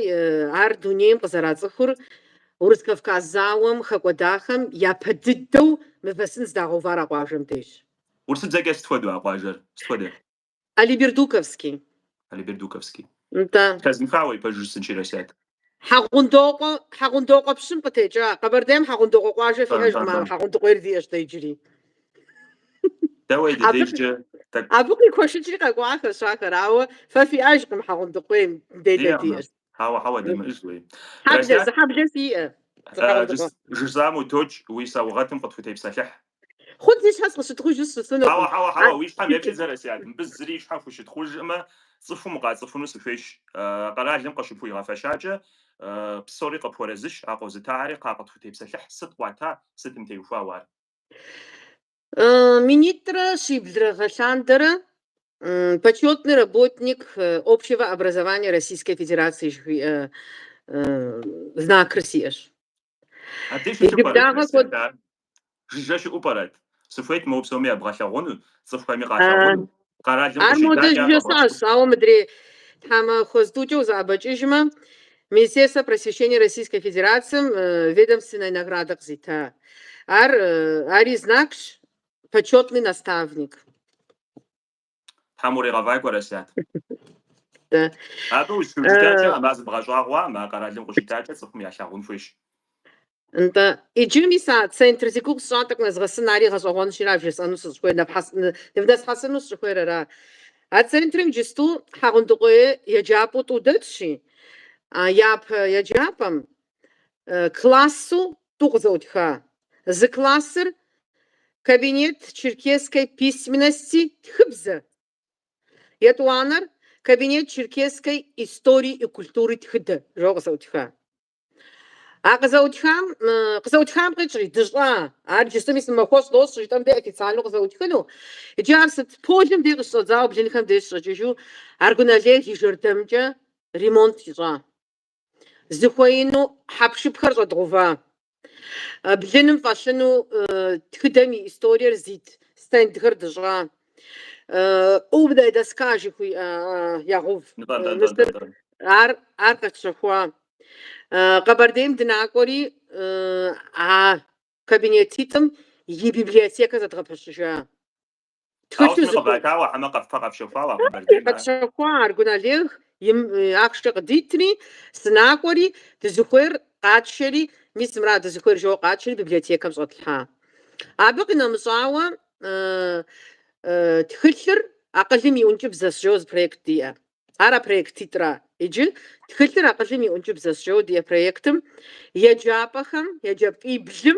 ар дунейм къызэрацӏыхур Урыс-Кавказ зауэм хэкӏуэдахэм япэ дыдэу мывэ сын здагъэувар а къуажэм дежщ. Урысыбзэкӏэ сыт хуэдэу а къуажэр? Сыт хуэдэ? Алибердуковский. Алибердуковский. Да. Зэхэзмыхауэ и пэжыр жысӏэнщи, Расият. Хьэгъундокъуэ, Хьэгъундокъуэ пщым къытекӏа. Къэбэрдейм Хьэгъундокъуэ къуажэ фиӏэжкъым, ауэ Хьэгъундыкъуейр диӏэщ дэ иджыри. Дэ уей ди дежкӏэ тӏэкӏу. Абы къикуэшыкӏри къэкӏуахэщ ахэр, ауэ фэ фиӏэжкъым Хьэгъундыкъуейм, дэ Диӏэкъым. диӏэщ. Хьэуэ, хьэуэ, димыӏэж, уей. Хьэблэ, Расият, зы хьэблэ фиӏэ. Зы э, хьэгъундыкъуэ. жыс- жысӏам утокӏ, уи саугъэтым къытхутепсэлъыхь. Хъунщ, си щхьэ сыкъыщытхъужу сыщысынукъым. Хьэуэ, хьэуэ, хьэуэ, уи щхьэм еплъыт, Расят, мыбы зыри и щхьэм хущытхъужыӏымэ, цӏыхум укъацӏыхуну сыхуейщ. Къэралым къыщыпхуигъэфэщакӏэ, псори къыпхуэрэзыщ, а къозытахэри кхъа къытхутепсэлъыхь, сыт къуата, сытым теухуауэ ар? Минитӏрэ щиблрэ гъэлъандэрэ, Почетный работник общего образования Российской Федерации жыхуиӏэ знакыр сиӏэщ. Абдеж щыту пӏэрэ Егыпдагъэ кӏуэцӏ кӏуэд. ятар? Жыжьэ щыӏэу пӏэрэт? Сыхуейт моуэ псоми ябгъэлъэгъуну, цӏыхухэми къалъэгъуну. Къэралым Ар модэ деж къыщидахэкӏэ къэбгъэщӏ. жесӏащ, ауэ мыдрей тхьэмахуэ зытӏукӏэ узэӏэбэкӏыжмэ, Министерствэ просвещения Российской Федерацием ведомственнэ наградэ къызита. Ар, ари знакщ, почетный наставник. Тхьэм уригъэфӏакӏуэ, Расят. Да. Абы ущыхыжытакӏэ а мазым бгъэщӏагъуам, а къэралым къыщитакӏэ цӏыхум ялъагъун хуейщ. Нтӏэ, иджы мис а центр зи гугъу сщӏа тӏэкӏу нэзгъэсын, ари гъэщӏэгъуэнущи ара вжесӏэну сыщӏыхуейр, нэпхьэс- ны- нывнэсхьэсыну сыщӏыхуейр ара. А центрым иджысту Хьэгъундыкъуей еджапӏэу тӏу дэтщи, а япэ еджапӏэм классу тӏу къызэӏутха. Зы классыр Кабинет черкесской письменности тхыбзэ, етӏуанэр Кабинет черкесской истории и культуры тхыдэ жэуэ къызэӏутха. А къызэӏутхам, къызэӏутхам къикӏри, дыщӏа, ар джысту мис махуэщӏ дощӏ жытӏэм де официально къызэӏутхыну. Иджы ар сыт полым де къыщыщӏэдзауэ блынхэм деж щӏэкӏыжу Аргун Олег и жэрдэмкӏэ ремонт ищӏа. зыхуеину хьэпшыпхэр щӏэдгъува. Блыным фӏэлъыну тхыдэм и историер зит стендхэр дыщӏа. Умная доска жыхуиӏэ ягъув. Ар ар къэтщэхуа. Къэбэрдейм дынакӏуэри а кабинетитӏым и библиотекэ зэдгъэпэщыжа. Тхылъу зыхуэхъу. Ауэ къыватауэ хьэмэ къэф- къэпщэхуауэ а Къэбэрдейм ар. Къэтщэхуа Аргун Олег и ахъшкӏэ къыдитри, сынакӏуэри, дызыхуейр къатшэри, мис мыра, дызыхуейр жэуэ къатшэри библиотекэм щӏэтлъхьа. Абы къинэмыщӏауэ Тхылъыр акъылым и ӏункӏыбзэщ жэуэ зы проект диӏэ. Ар а проектитӏра? Иджы Тхылъыр акъылым и ӏункӏыбзэщ жэуэ диӏэ проектым еджапӏэхэм, еджапӏиблым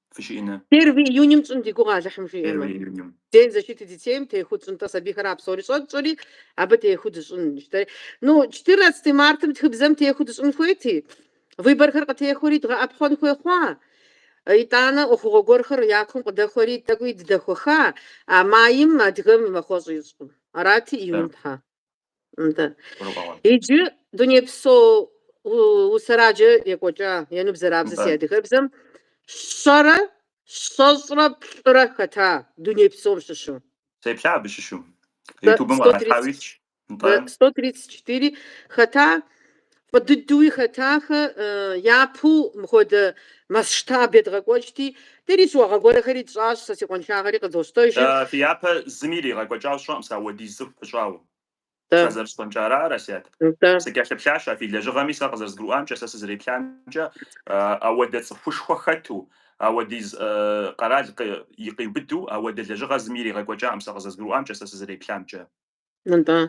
фщӏыну. Первый июньым тщӏын ди гугъэ Алыхьым жиӏэмэ. Первый июньым. День защиты детейм техуэу тщӏын, нтӏэ сабийхэр а псори щӏэтщӏэри, абы техуэу дыщӏын. Ну, четырнадцатый мартым тхыбзэм техуэу дыщӏын хуейти, выборхэр къытехуэри дгъэӏэпхъуэн хуей хъуа? Итӏанэ ӏуэхугъуэ гуэрхэр я кум къыдэхуэри тӏэкӏуи дыдэхуэха? А майм адыгэм махуэщӏ ищӏкъым. Арати, июньым тхьа. Иджы дунейпсо усэраджэ екӏуэкӏа ену бзэрабзэ си адыгэбзэм щэрэ щэщӏрэ плӏырэ хэта дуней псом щыщу. Сеплъа абы щыщу. Ютубым къралъхьауи илъщ. Нтӏэ. 134 хэта Фӏы дыдэуи хэтахэ, япэу мыхуэдэ масштаб едгъэкӏуэкӏти, дэри щыуагъэ гуэрэхэри тщӏащ, сэ си къуэншагъэри къызощтэжыр. Фи япэ зыми иригъэкӏуэкӏауэ сщӏэкъым сэ ауэдиз цӏыху пыщӏауэ. Сэ зэрыскъуэнкӏэ ара, Расят. Сыкӏэлъыплъащ а фи лэжьыгъэми, сэ къызэрызгурыӏуамкӏэ, сэ сызэреплъамкӏэ, ауэдэ цӏыхушхуэ хэту, ауэдиз къэрал къиубыду ауэдэ лэжьыгъэ зыми иригъэкӏуэкӏакъым сэ къызэрызгурыӏуамкӏэ, сэ сызэреплъамкӏэ. Нтӏэ.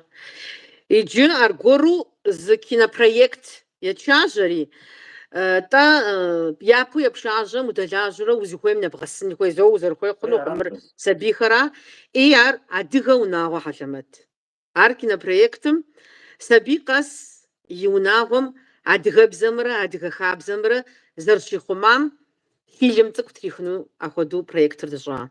Иджы аргуэру зы кинопроект етшажьэри, тӏэ япэу епшажьэм удэлажьэурэ узыхуейм нэбгъэсын хуей, зэуэ узэрыхуей хъунукъым, мыр сабийхэра, и ар Адыгэ унагъуэ хьэлэмэт. Ар кинопроектым сабий къэс и унагъуэм адыгэбзэмрэ адыгэ хабзэмрэ зэрыщихъумам фильм цӏыкӏу трихыну ахуэду проектыр дыщӏа.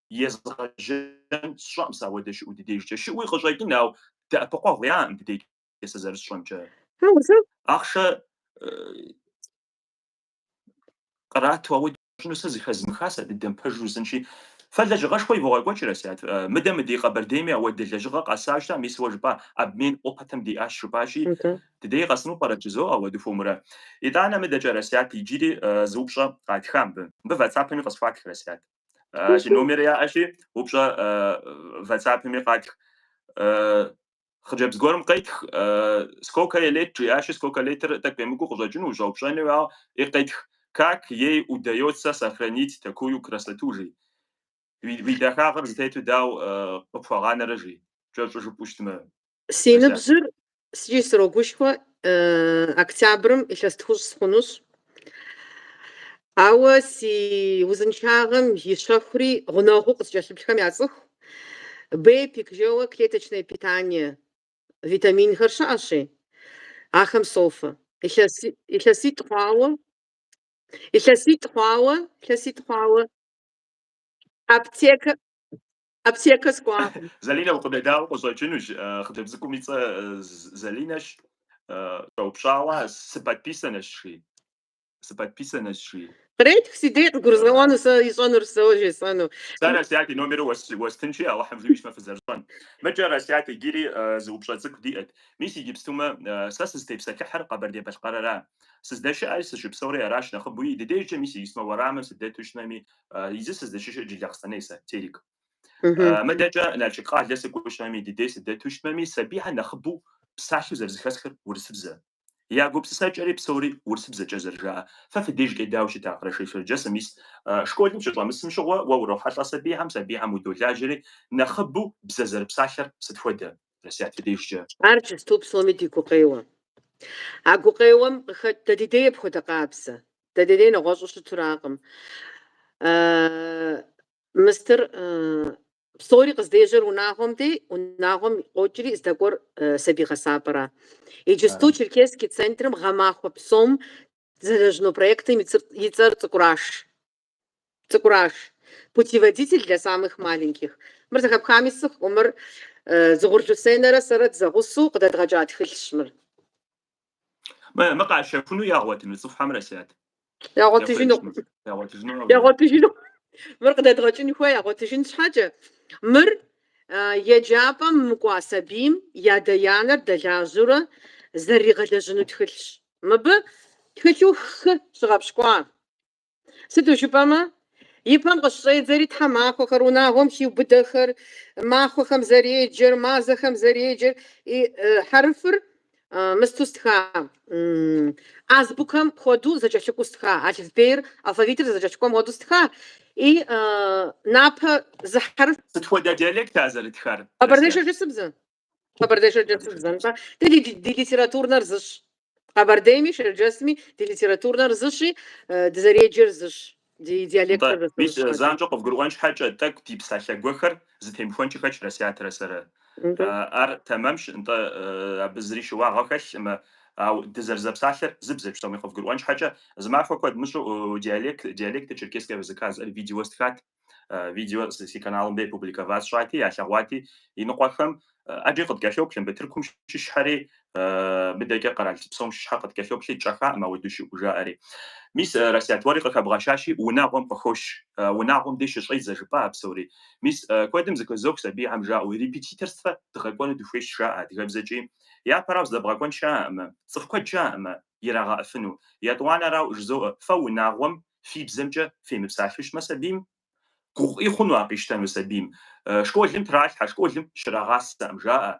езгъэжьэн сщӏэкъым сэ ауэдэ щыӏэу ди дежкӏэ. Щыӏуи къыщӏэкӏын, ауэ дэӏэпыкъуэгъу яӏэкъым ди дежкӏэ сэ зэрысщӏэмкӏэ. Ахъшэ кърату ауэдэ ищӏыну сэ зыхэзмыха сэ дыдэм пэжу жысӏынщи, фэ лэжьыгъэшхуэ ивогъэкӏуэкӏ, Расят, мыдэ мы ди Къэбэрдейми ауэдэ лэжьыгъэ къэсащ да, мис уэ жыпӏа обмен опытым диӏащ жыпӏащи, дыдей къэсыну пӏэрэ жызоӏэ ауэ дыхуэмурэ. Итӏанэ мыдэкӏэ, Расят, иджыри зы упщӏэ къатха мыбы. Мыбы ватсапэми къысхуатх, Расят. А, си номери яӏэщи, упщӏэ ватсапми къатх. Хъыджэбз гуэрым къетх сколько ей лет жиӏащи, сколько летыр тӏэкӏу емыкӏуу къыщӏэкӏыну ущӏэупщӏэну, ауэ и къетх как ей удается сохранить такую красоту жи. Уи дахагъыр зытету дау къыпхуэгъанэрэ жи. Кӏэщӏу жыпӏущтмэ, Си ныбжьыр сыткӏи срогушхуэ октябрым илъэс тхущӏ схъунущ. Ауэ си узыншагъэм и щэхури гъунэгъуу къыскӏэлъыплъхэм яцӏыху. Бепик жаӏэу клеточное питание витаминхэр щыӏэщи, ахэм софэ. Илъэситӏ хъуауэ, илъэситӏ хъуауэ, илъэситӏ хъуауэ аптекэ, Аптекэ скӏуакъым. Залинэ укъыдэдаӏуэ къыщӏэкӏынущ. Хъыджэбз цӏыкӏум и цӏэ Залинэщ. Щӏэупщӏауэ сыподписанэщ жи. Сыподписанэщ жи. Къретх си дей къыгурызгъэӏуэну сэ ищӏэнур сэ жесӏэну. Сэ Расят и номеру уэстынщи, Алыхьым жиӏэу щытмэ фызэрыщӏэн. Мыкӏэ Расят иджыри зы упщӏэ цӏыкӏу диӏэт. Мис иджыпстумэ сэ сызытепсэлъыхьыр Къэбэрдей-Балъкъэрыра. Сыздэщыӏэри сыщыпсэури аращ нэхъыбэуи. Ди дежкӏэ мис иджыпстумэ уэрамым сыдэту щытми, Иджы сыздэщыщыр Джылахъстэней сэ, Терек. Мыдэкӏэ Налшык къалэ сыкӏуэу щытами, дыдей сыдэту щытмэми, сабийхэр нэхъыбэу псалъэу зэрызыхэсхыр урысыбзэ. Я гупсысэкӏэри псори урысыбзэкӏэ зэрыжаӏэ. Фэ фи дежкӏэ дауэ щыта Къэрэшей-Шэрджэсым, мис школым щыщӏэмысым щыгъуэ, уэ урохьэлӏэ сабийхэм, сабийхэм удолажьэри, нэхъыбэу бзэ зэрыпсалъэр сыт хуэдэ? Ар иджысту псоми ди гукъеуэ. А гукъеуэм къыхэкӏ дэ ди дей апхуэдэ къабзэ. Дэ ди дей нэгъуэщӏу щыту аракъым. Мыстыр псори къыздежьэр унагъуэм дей, унагъуэм къокӏри здэкӏуэр сабий гъэсапӏэра. Иджысту Черкесский центрым гъэмахуэ псом зэлэжьыну проектым и цӏэр Цӏыкӏураш. Цӏыкӏураш. Путеводитель для самых маленьких. Мыр зэхэпхами сщӏэкъым, мыр Дзыгъур Люсенэрэ сэрэ дызэгъусэу къыдэдгъэкӏа тхылъщ мыр. Мы къащэхуну ягъуэтыну цӏыхухэм, Расият? Ягъуэтыжыну. Ягъуэтыжыну. Ягъуэтыжыну. Мыр къыдэдгъэкӏын хуей, ягъуэтыжын щхьэкӏэ. Мыр еджапӏэм мыкӏуа сабийм и адэ-янэр дэлажьэурэ зэрыригъэлэжьыну тхылъщ. Мыбы тхылъу хы щыгъэпщкӏуа Сыту жыпӏэмэ, и пэм къыщыщӏедзэри тхьэмахуэхэр, унагъуэм хиубыдэхэр, махуэхэм зэреджэр, мазэхэм зэреджэр, и хьэрыфыр мысту стха, азбукэм хуэдэу зэкӏэлъыкӏуэу стха, алыфбейр алфавитыр зэкӏэлъыкӏуэм хуэдэу стха, и напэ зы хьэрыф. Сыт хуэдэ диалект а зэрытхар? Къэбэрней-шэрджэсыбзэ. Къэбэрдей-шэрджэсыбзэ, нтӏэ, дэ ди ди литературнэр зыщ. Къэбэрдейми, Шэрджэсми ди литературнэр зыщи, дызэреджэр зыщ, ди диалектыр Нтӏэ, мис зыщ. занщӏэу къывгурыӏуэн щхьэкӏэ, тӏэкӏу ди псалъэ гуэхэр зытемыхуэнкӏи хэлъщ Расиятэрэ сэрэ. Нтӏэ. Ар тэмэмщ, нтӏэ, абы зыри щыуагъэ хэлъӏым, ауэ дызэрызэпсалъэр зы бзэщ, псоми къывгурыӏуэн щхьэкӏэ, зы махуэ куэд мыщӏу диалект, диалекты черкесского языка зыӏэр видео стхат. Видеор си каналым дей публиковать сщӏати, ялъэгъуати иныкъуэхэм. ӏэджи къыткӏэлъоплъ, мы Тыркум щыщхэри, мыдэкӏэ къэрал псом щыщхэ къыткӏэлъоплъи, тщӏэхакъым ауэдэу щыӏэу, жаӏэри. Мис, Расият, уэри къыхэбгъэщащи, унагъуэм къыхощ, унагъуэм дей щыщӏедзэ жыпӏа а псори. Мис, куэдым зыхызох сабийхэм, жаӏэу, репетиторствэ дгъэкӏуэну дыхуейщ, жаӏэ адыгэбзэкӏи. Япэрауэ здэбгъэкӏуэн щыӏэӏым. Цӏыху куэд щыӏэӏым ирагъэӏыфыну. Етӏуанэрауэ жызоӏэ, фэ унагъуэм фи бзэмкӏэ фемыпсалъущмэ сабийм, гугъу ӏей хъуну ар къищтэну сабийм. Школым тралъхьэ, школым щрагъасэӏым жаӏэ,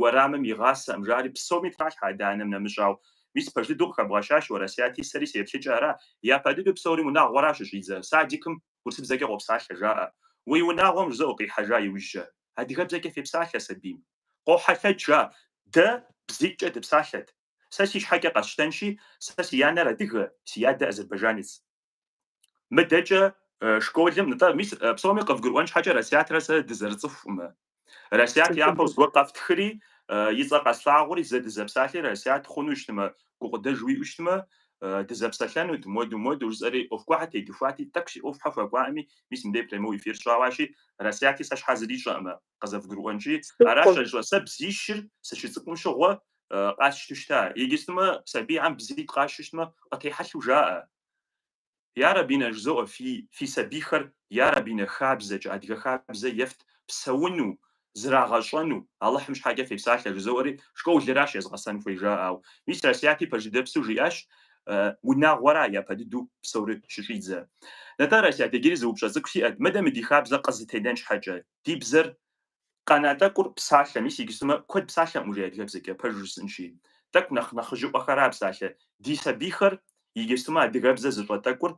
уэрамым игъасэӏым жаӏэри псоми тралъхьэ адэ-анэм нэмыщӏау. Мис пэж дыдэу къыхэбгъэщащ уэ, Расияти, сэри си еплъыкӏэ ара, япэ дыдэу псори унагъуэращ щыщӏидзэр, садикым урысыбзэкӏэ къопсалъэ жаӏэ. Уи унагъуэм жызоӏэ къихьэжа иужькӏэ, адыгэбзэкӏэ фепсалъэ сабийм. Къохьэлъэкӏ жаӏэ, дэ бзитӏкӏэ дыпсалъэт. Сэ си щхьэкӏэ къэсщтэнщи, сэ си анэр адыгэ, си адэ азербайжанец. Мыдэкӏэ школым, нтӏэ, мис псоми къывгурыӏуэн щхьэкӏэ Расятрэ сэ дызэрыцӏыхукъымэ. Расят япэу зыгуэр къэфтхыри, и цӏэ къэслъагъури, зэ дызэпсалъи, Расят хъуну щытмэ, гукъыдэж уиӏэу щытмэ, дызэпсэлъэнут, моду, моду, жысӏэри, ӏуэху гъуэхьэ тедыхуати, тӏэкӏу си ӏуэхухьэ хуэкӏуаӏыми, мис мыбдей прямой эфир сщӏауащи, Расяти сэ щхьэ зыри ищӏэӏымэ. къызэвгурыӏуэнкӏи, аращ а щӏэ, сэ бзищыр сыщыцӏыкӏум щыгъуэ къасщтэу щыта, иджыстумэ сабийхьэм бзитӏ къащтэу щытмэ, къытехьэлъу жаӏэ. Я Рэби нэ, жызоӏэ, фи, фи сабийхэр, я Рэби нэ, хабзэкӏэ, адыгэ хабзэ ефт, псэуну, зрагъэщӏэну, Алыхьым щхьэкӏэ фепсалъэ, жызоӏэри, школыращ езыгъэсэн хуей жаӏэу. Мис Расиати пэжыдэпсу жиӏащ, Унагъуэра япэ дыдэу псори щыщӏидзэ. Нтӏэ, Расиат, иджыри зы упщӏэ цӏыкӏу сиӏэт, мыдэ мы ди хабзэр къызэтенэн щхьэкӏэ, Ди бзэр къэна тӏэкӏур псалъэ, мис иджыстумэ куэд псалъэкъым уже адыгэбзэкӏэ, пэжу жысӏынщи. Тӏэкӏу нэхъ нэхъыжьыӏуэхэра псалъэ. Ди сабийхэр иджыстумэ адыгэбзэ зыщӏэ тӏэкӏур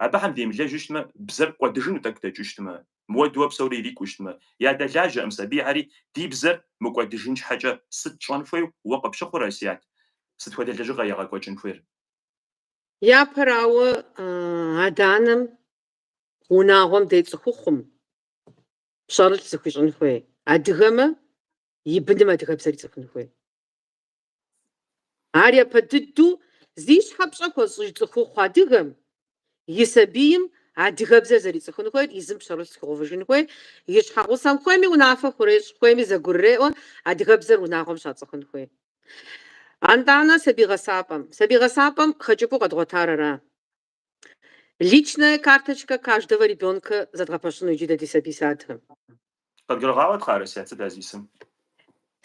абыхэм демылэжьу щытмэ, бзэр кӏуэдыжыну тӏэкӏу дэкӏыщтмэ, мыуэдууэ псори ирикӏущтмэ. Ядэлажьэкъым сабийхьэри ди бзэр мыкӏуэдыжын щхьэкӏэ. Сыт щӏэн хуейу уэ къыпщыхъур, Расият? Сыт хуэдэ лэжьыгъэ егъэкӏуэкӏын хуейр? Япэрауэ, адэ-анэм унагъуэм де цӏыхухъум, пщэрылъ зыхуищӏын хуей, адыгэмэ и быным адыгэбзэр ицӏыхун хуей. Ар япэ дыдэу зи щхьэ пщӏэ хуэзыщӏыж цӏыхухъу адыгэм и сабийм адыгэбзэр зэрицӏыхун хуейр, езым пщэрылъ зыхуигъэувыжын хуей, и щхьэгъусэм хуейми унафэ хурещӏ, хуейми зэгурреӏуэ адыгэбзэр унагъуэм щацӏыхун хуей. Антӏанэ сабий гъэсапӏэм. Сабий гъэсапӏэм хэкӏыпӏэу къэдгъуэтар ара? Личная карточка каждого ребенка зэдгъэпэщыну иджы дэ ди сабий садхэм. Къыдгурыгъаӏуэт кхъа, Расят, ар зищӏысыр?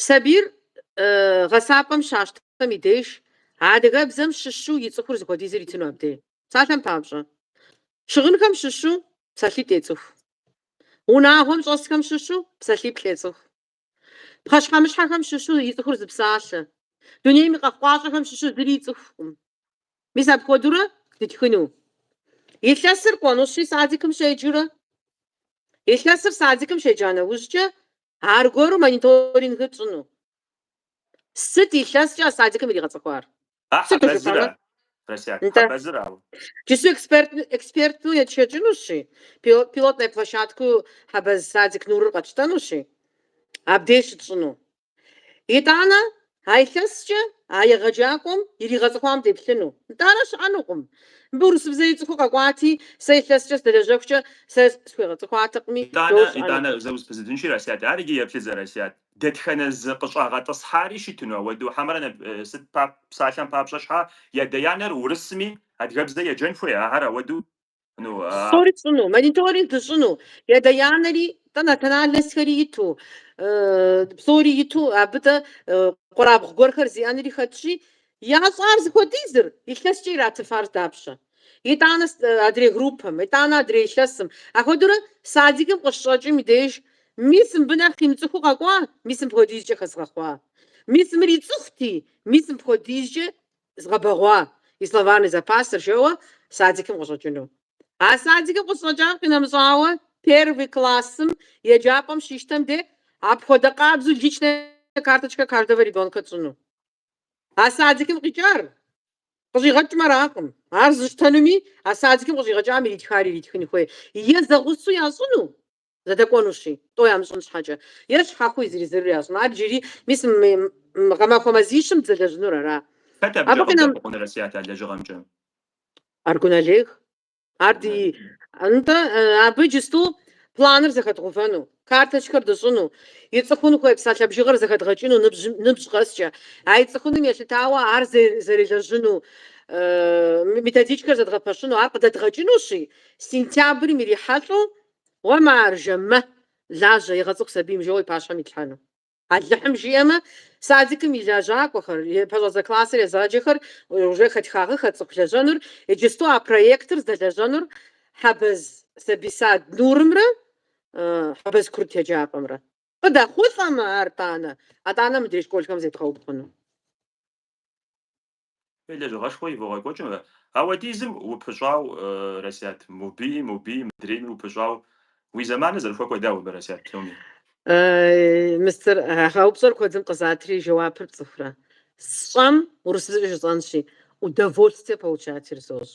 Сабийр гъэсапӏэм щащтхэм и деж адыгэбзэм щыщу ицӏыхур зыхуэдизыр итыну абдей. Псалъэм папщӏэ, щыгъынхэм щыщу псалъитӏ ецӏыху. Унагъуэм щӏэсхэм щыщу псалъиплӏ ецӏыху. Пхъэщхьэмыщхьэхэм щыщу ицӏыхур зы псалъэ. Дунейм и къэхъукъащӏэхэм щыщу зыри ицӏыхукъым. Мис апхуэдэурэ дытхыну? Илъэсыр кӏуэнущи, садикым щеджэурэ? Илъэсыр садикым щеджа нэужькӏэ, аргуэру мониторингыр тщӏыну? Сыт илъэскӏэ а садикым иригъэцӏыхуар? А Сыт хьэбэзыра? жыпӏэмэ? Росят, Нтӏэ. хьэбэзырауэ. Джысту эксперт, эксперту етшэкӏынущи, пилот, пилотнэ площадкэу Хьэбэз садик Нурыр къэтщтэнущи, абдеж щытщӏыну. Итӏанэ, а илъэскӏэ а егъэджакӏуэм иригъэцӏыхуам деплъыну. Итӏанэ щыӏэнукъым. Мыбы урысыбзэ ицӏыхуу къэкӏуати, сэ илъэскӏэ сыдэлэжьэхукӏэ сэ схуегъэцӏыхуатэкъыми, Итӏанэ, жо щыӏэнукъым. итӏанэ, зэ узэпызудынщи, Росят, ар иджы еплъыт зэ, Росят. Дэтхэнэ зы къыщӏагъэтӏысхьари щытыну ауэду хьэмэрэ ну сыт пап псалъэм папщӏэ щхьа ядэ-янэр урысми адыгэбзэ еджэн хуей ахэр ауэду ну а. Псори тщӏыну, мониторинг дыщӏыну, ядэ-янэри тӏэ национальностхэри иту, псори иту абы тӏэ къуэрабгъу гуэрхэр зиӏэнри хэтщи, ящӏар зыхуэдизыр илъэскӏэ иратыфар дапщэ? итӏанэ адрей группэм, итӏанэ адрей илъэсым. Ахуэдэурэ садикым къыщыщӏэкӏым и деж мис мыбы нэхъ имыцӏыхуу къэкӏуа, мис мыпхуэдизкӏэ хэзгъэхъуа. Мис мыр ицӏыхути, мис мыпхуэдизкӏэ згъэбэгъуа и словарный запасыр, жэуэ садикым къыщӏэкӏыну. А садикым къыщӏэкӏам къинэмыщӏауэ, первый классым еджапӏэм щищтэм де апхуэдэ къабзэу личная карточка каждого ребенка тщӏыну. А садикым къикӏар къыщӏигъэкӏмэ аракъым. Ар зыщтэнуми, а садикым къыщӏигъэкӏам иритхар иритхын хуей. Е зэгъусэу ящӏыну, зэдэкӏуэнущи, тӏо ямыщӏын щхьэкӏэ, е щхьэхуи зыри-зырыр ящӏыну. Ар иджыри, мис, гъэмахуэ мазищым дызэлэжьынур ара? Хэт абыкӏэ къыбдэхъукъуныр Расят а лэжьыгъэмкӏэ? Аргун Олег. Ар ди нтӏэ, абы иджысту планыр зэхэдгъувэну, карточкэр дыщӏыну, ицӏыхун хуей псалъэ бжыгъэр зэхэдгъэкӏыну ныбжьым- ныбжь къэскӏэ. А ицӏыхуным елъытауэ ар зэ- зэрелэжьыну, э, методичкэр зэдгъэпэщыну, ар къыдэдгъэкӏынущи, сентябрым ирихьэлӏэу, Уэ маржэ, мэ, лажьэ, егъэцӏыху сабийм, жэуэ и пащхьэм итлъхьэну. Алыхьым жиӏэмэ, садикым и лэжьакӏуэхэр, пэщӏэдзэ классыр езыгъэджэхэр уже хэтхагъэххэт цӏыху лэжьэнур, иджысту а проектыр здэлэжьэнур Хьэбэз сабий сад Нурымрэ Хьэбэз Курыт еджапӏэмрэ. Къыдэхъулӏэмэ ар, тӏанэ, атӏанэ мыдрей школхэм зедгъэубгъуну. Е лэжьыгъэшхуэ ивогъэкӏуэкӏ мэ, ауэдизым упыщӏау, Расят, мобыи, мобыи, мыдрейми упыщӏау, уи зэманыр зэрыхуэкӏуэ дауэ абы, Расят, псоми? Мистер, а упщӏэр куэдым къызатри, жэуапыр пцӏыхурэ? Сщӏэм, урысыбзэкӏэ жысӏэнщи, удовольствие получать сощӏ.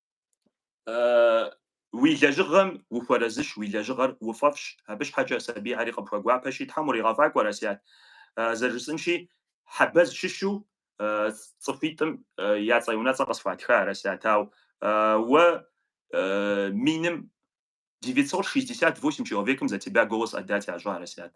Уи лэжьыгъэм ухуэрэзыщ, уи лэжьыгъэр уфӏэфӏщ, абы щхьэкӏэ сабийхьэри къыпхуэгуапэщи, Тхьэм уригъэфӏакӏуэ, Расят. Зэрыжысӏэнщи, Хьэбэз щыщу цӏыхуитӏым я цӏэ-унэцӏэ къысхуатха, Расят, ауэ уэ миным девятьсот шестьдесят восемь человекым за тебя голос отдать ящӏа Расят.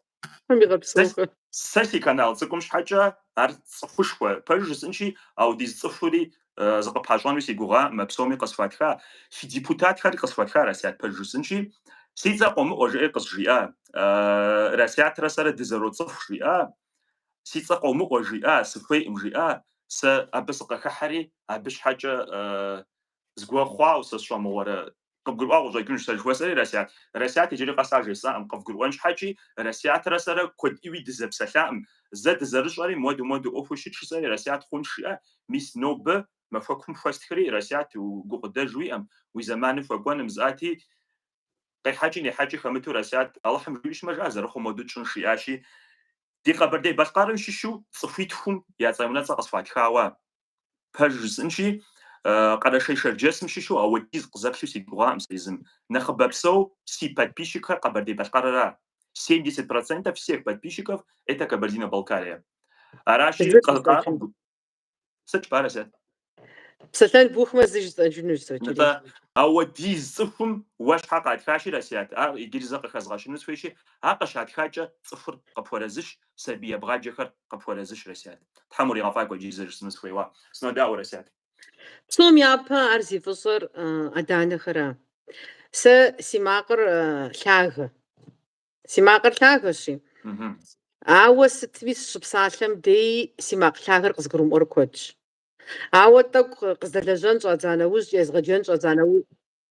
Сэ си канал цӏыкӏум щхьэкӏэ ар цӏыхушхуэ. Пэжу жысӏынщи, ауэдиз цӏыхури зыкъыпащӏэну си гугъа, мэ псоми къысхуатха. Си депутатхэри къысхуатха Расят пэж жысӏынщи, си цӏэ къомыӏуэ жыӏи къызжиӏа. Расятрэ сэрэ дызэроцӏыху жиӏа, си цӏэ къомыӏуэ жиӏа, сыхуейӏым жиӏа, сэ абы сыкъыхыхьэри, абы щхьэкӏэ Згуэ хъуауэ сэ сщӏэмыгъуэрэ? Къыбгурыӏуа къыщӏэкӏынущ сэ, жыхуэсӏэри Расят. Расят иджыри къэс ар жесӏакъым, къывгурыӏуэн щхьэкӏи, Расятрэ сэрэ куэд ӏуи дызэпсэлъакъым, зэ дызэрыщӏэри моду-моду ӏуэхур щытщ, жысӏэри Расят хъунщ жиӏэ, мис нобэ махуэкум хуэстхри, Расят, гукъыдэж уиӏэм, уи зэманым хуэкӏуэным зыӏэти, къехьэкӏи нехьэкӏи хэмыту Расят, Алыхьым жиӏэу щытмэ, жаӏэ, зэрыхъу моду тщӏынщ, жиӏащи, Ди Къэбэрдей-Балъкъэрым щыщу цӏыхуитхум я цӏэ-унэцӏэ къысхуатхауэ, пэж жысӏынщи, Къэрэшей-Шэрджэсым щыщу ауэдиз къызэплъу сигугъакъым сэ езым. Нэхъыбэпсэу си подписчикхэр Къэбэрдей-Балъкъэрра. Семьдесят процентов всех подписчиков это Кабардино-Балкария. Аращи, Зыр къы- къа- къызэкӏыну. Сыт жыпӏа, Расият? Псэлъэн бухмэ, зы жысӏэжынущ, Нтӏэ, сочеред. ауэдиз цӏыхум уэ щхьэ къатхащи, Расият, ар иджыри зэ къыхэзгъэщыну схуейщи, ар къыщатхакӏэ цӏыхур къыпхуэрэзыщ, сабий ебгъаджэхэр къыпхуэрэзыщ, Расят. Тхьэм уригъэфӏакӏуэ иджыри зэ жысӏэну сыхуейуэ. Сынодаӏуэ, Расят. Псом япэ ар зи фӏыщӏэр адэ-анэхэра. Сэ си макъыр лъагэ. Си макъыр лъагэщи. Ауэ сытми сыщыпсалъэм дей си макъ лъагэр къызгурымыӏуэр куэдщ. Ауэ тӏэкӏу къыздэлэжьэн щӏадза нэужькӏэ, езгъэджэн щӏадза нэужькӏэ.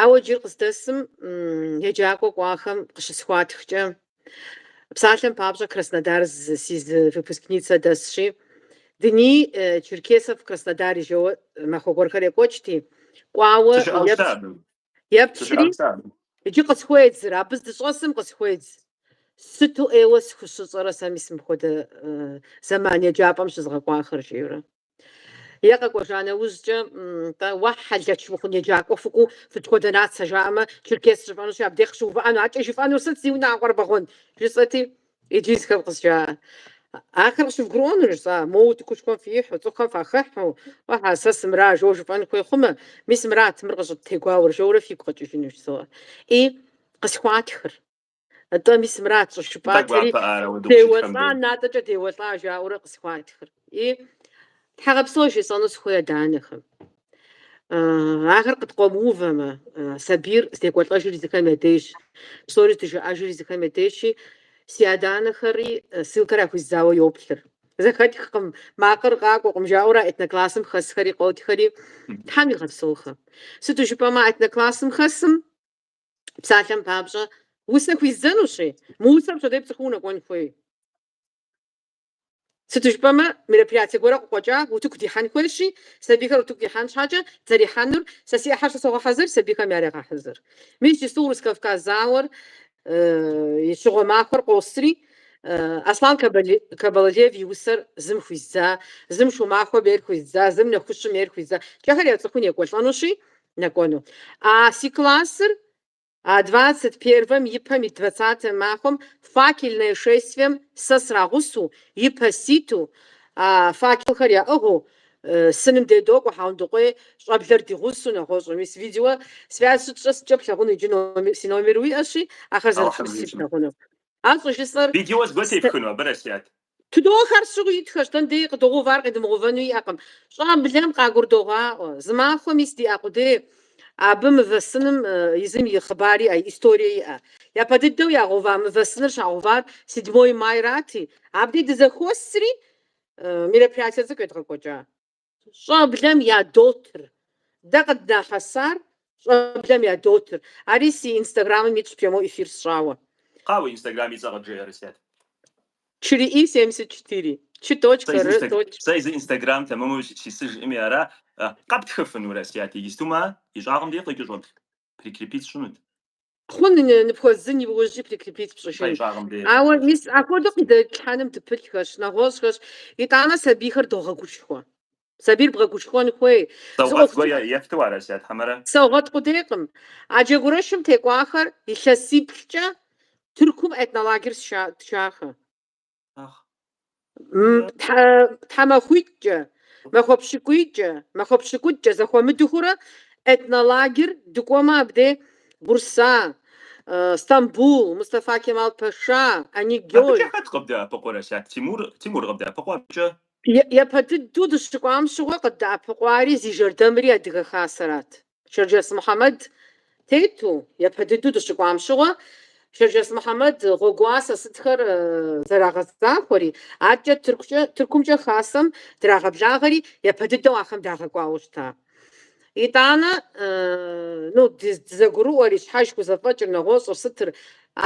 Ауэ иджыри къыздэсым еджакӏуэ кӏуахэм къыщысхуатхкӏэ, псалъэм папщӏэ Краснодар си зы выпускницэ дэсщи, Дни черкесов в Краснодаре жэуэ махуэ гуэрхэр екӏуэкӏти, кӏуауэ еплъри, иджы къысхуедзыр, абы здыщӏэсым къысхуедз. Сыту ӏейуэ схущыщӏэрэ сэ мис мыпхуэдэ зэман еджапӏэм щызгъэкӏуахэр, жиӏэурэ. Е къэкӏуэжа нэужькӏэ, тӏэ, уэ хьэлэч мыхъун еджакӏуэ фыкӏуу фысыт хуэдэ нацэ жаӏэмэ, черкес жыфӏэнущи, абдеж къыщыувыӏэну, адэкӏэ жыфӏэнур сыт, зи унагъуэр бэгъуэн? жысӏэти, иджы езыхэм къызжаӏэ. Ахэр къыщывгурыӏуэну жысӏа? Моуэ утыкушхуэм фихьу, цӏыхухэм фахыхьу, Ӏэхьа, сэ сымра, жо жыфӏэн хуей хъумэ, мис мырат, мыр къыщӏыттегуауэр, жоурэ фигу къэкӏыжынущ, зоӏэ. И, къысхуатхыр. Атӏэ мис мырат щӏыжыпӏатэри, деуэлӏа, натӏэкӏэ деуэлӏа жаӏэурэ къысхуатхыр. И тхьэгъэпсэу жесӏэну сыхуей адэ-анэхэм. Ахэр къыткъуэмыувэмэ, сабийр здекӏуэлӏэжыр езыхэм я дежщ, псори здыжаӏэжыр езыхэм я дежщи, си адэ-анэхэри ссылкэр яхуэздзауэ йоплъыр. Зэхэтхкъым, макъыр къакӏуэкъым жаӏэурэ этноклассым хэсхэри къотхэри, Тхьэм игъэпсэухэ. Сыту жыпӏэмэ, этноклассым хэсым Псалъэм папщӏэ, усэ хуиздзэнущи, мы усэр пщэдей пцӏыхуу унэкӏуэн хуей. Сыту жыпӏэмэ, мероприятие гуэрэ къыкъуэкӏа, утыку дихьэн хуейщи, сабийхэр утыку дихьэн щхьэкӏэ, зэрихьэнур, сэ си ӏыхьэр сэ согъэхьэзыр, сабийхэм ярегъэхьэзыр. Мис иджыпсту Урыс-Кавказ зауэр и щыгъуэ махуэр къосри, Аслан Кабалалиев и усэр зым хуиздза, зым Шумахуэм ейр хуиздза, зым Нэхущым ейр хуиздзакӏэ ахэр яцӏыхуу некӏуэлӏэнущи, нэкӏуэну. А си классыр а двадцать первэм и пэм ит двадцатэ махуэм факельное шествием сэ срагъусэу, и пэ ситу, а факелхэр яӏыгъыу, сыным дедокӏуэ Хьэгъундыкъуей щӏэблэр ди гъусэу нэгъуэщӏу. Мис видео связь щытщӏэ сыткӏэ плъагъуну иджы номер, си номер уиӏэщи, ахэр зэрыплъысри плъагъуну. Ар щӏыжысӏэр. Видео зыгуэр тепхыну абы Расият? Тыдох ар, сыт щыгъуи итхэщ, дэн дей къыдогъув ар къидымыгъувэну иӏэкъым. Щӏэблэм къагурдогъаӏуэ, зы махуэ мис диӏэ къудей абы мывэ сыным езым и хъыбар иӏэ, историе иӏэ. Япэ дыдэу ягъува мывэ сыныр щагъувар седьмой майрати, абдей дызэхуосри мероприятие цӏыкӏу едгъэкӏуэкӏа. Щӏэблэм ядотыр. Дэ къыднахьэсар щӏэблэм ядотыр. Ари си инстаграмым итщ прямой эфир сщӏауэ. Къа уи инстаграм и цӏэ къыджеӏэ, Расият. Чы ры и семьдесят четыре. Чы точка, ры точка. Сэ езы инстаграм тэмэму сисыжӏыми ара. Къэптхыфыну, Расият, иджыпсту мы и щӏагъым де къикӏыу чтоб. прикрепить сщӏынут. Хъун, ны- ныпхуэздзын иужьи прикрепить пщӏыжын. И щӏагъым де. Ауэ мис апхуэдэу къыдэлъхьэным дыпылъхэщ, нэгъуэщӏхэщ, итӏанэ сабийхэр догъэгушхуэ. Сабийр бгъэгушхуэн хуей. Зы саугъэт ӏуэху гуэ цӏыкӏу е- ефту ара, Расият, хьэмэрэ? Саугъэт къудейкъым. А джэгурэшым текӏуахэр илъэсиплӏкӏэ Тыркум этнолагер тша- тшахэ. тхьэмахуитӏкӏэ, махуэ пщыкӏуийкӏэ, махуэ пщыкӏутӏкӏэ зэхуэмыдэхурэ этнолагер дыкӏуэмэ абде Бурса, Стамбул, Мустафа Кемал Пэша, Инегёл. Абыкӏэ хэт къыбдэӏэпыкъуэ, Расият, Тимур? Тимур къыбдэӏэпыкъуэ абыкӏэ? Япэ дыдэу дыщыкӏуам щыгъуэ къыддэӏэпыкъуари зи жэрдэмри Адыгэ Хасэрат. Шэрджэс Мухьэмэд тету, япэ дыдэу дыщыкӏуам щыгъуэ, Шэрджэс Мухьэмэд гъуэгуасэ сытхэр зэрагъэзахуэри, адэкӏэ Тыркукӏэ, Тыркумкӏэ хасэм драгъэблагъэри, япэ дыдэу ахэм дагъэкӏуауэ щыта. Итӏанэ, ну, дызэгурыӏуэри, щхьэж хузэфӏэкӏыр, нэгъуэщӏыр сытыр,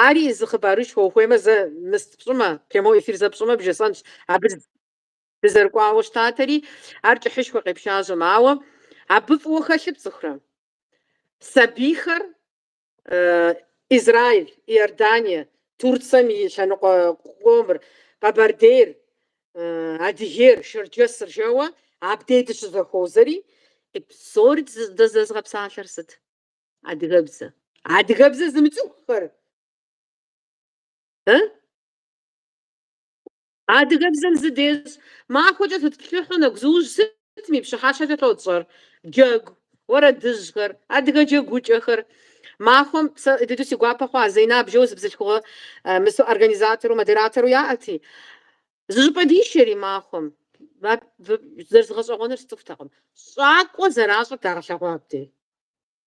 ари зы хъыбарышхуэ, ухуеймэ зэ мыст пщӏымэ, прямой эфир зэ пщӏымэ, бжесӏэнщ, абы Дызэрыкӏуауэ щытатэри, ар кӏыхьышхуэ къепщащӏэм, ауэ абы фӏыуэ хэлъыр пцӏыхурэ? Сабийхэр Израиль, Иордание, Турцэм и лъэныкъуэ къомыр, Къэбэрдейр, Адыгейр, Шэрджэсыр жэуэ абдей дыщызэхуозэри, псори дызэзыгъэпсалъэр сыт? Адыгэбзэ. Адыгэбзэ зымыцӏыхухэр? Адыгэбзэм зы дещӏ махуэкӏэ зытплъыхьу нэгузыужь сытми пщыхьэщхьэкӏэ тотщӏэр? Джэгу, уэрэдыжьхэр, адыгэ джэгукӏэхэр. Махуэм сэ дыдэу си гуапэ хъуа Зэйнаб жэу зы бзылъхугъэ мысу организатору, модератору яӏэти, зыщӏыпӏэ дишэри махуэм. Зэрызыгъэщӏэгъуэныр сцӏыхутэкъым. Щӏакӏуэ зэращӏыр дагъэлъэгъуа абдей.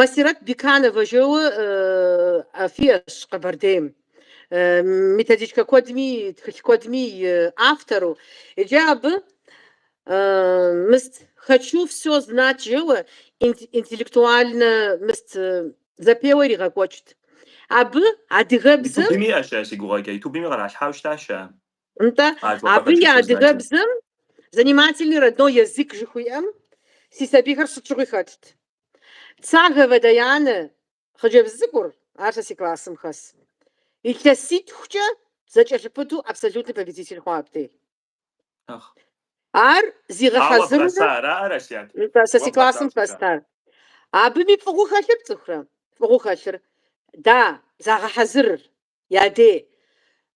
Масирэт Бекановэ жэуэ фиӏэщ Къэбэрдейм. Методичкэ куэдми, тхылъ куэдми автору. Иджы абы мыст «Хочу всё знать» жэуэ интеллектуальнэ мыст зэпеуэ иригъэкӏуэкӏт. Абы адыгэбзэм. Ютубым иӏэщ ар, си гугъэкӏэ. Ютубыми къэралъхьауэ щытащ ар. Нтӏэ, абы и адыгэбзэм занимательный родной язык жыхуиӏэм си сабийхэр сыт щыгъуи хэтт. Цаговэ Даяне, хъыджэбз цӏыкӏур, ар сэ си классым хэс. Илъэситхукӏэ зэкӏэлъыпыту абсолютный победитель хъуа абдей. Ар зигъэхьэзыру сэ си классым хэст ар. Абыми фӏыгъуу хэлъыр пцӏыхурэ? Фӏыгъуу хэлъыр, да, загъэхьэзырыр. Я дей,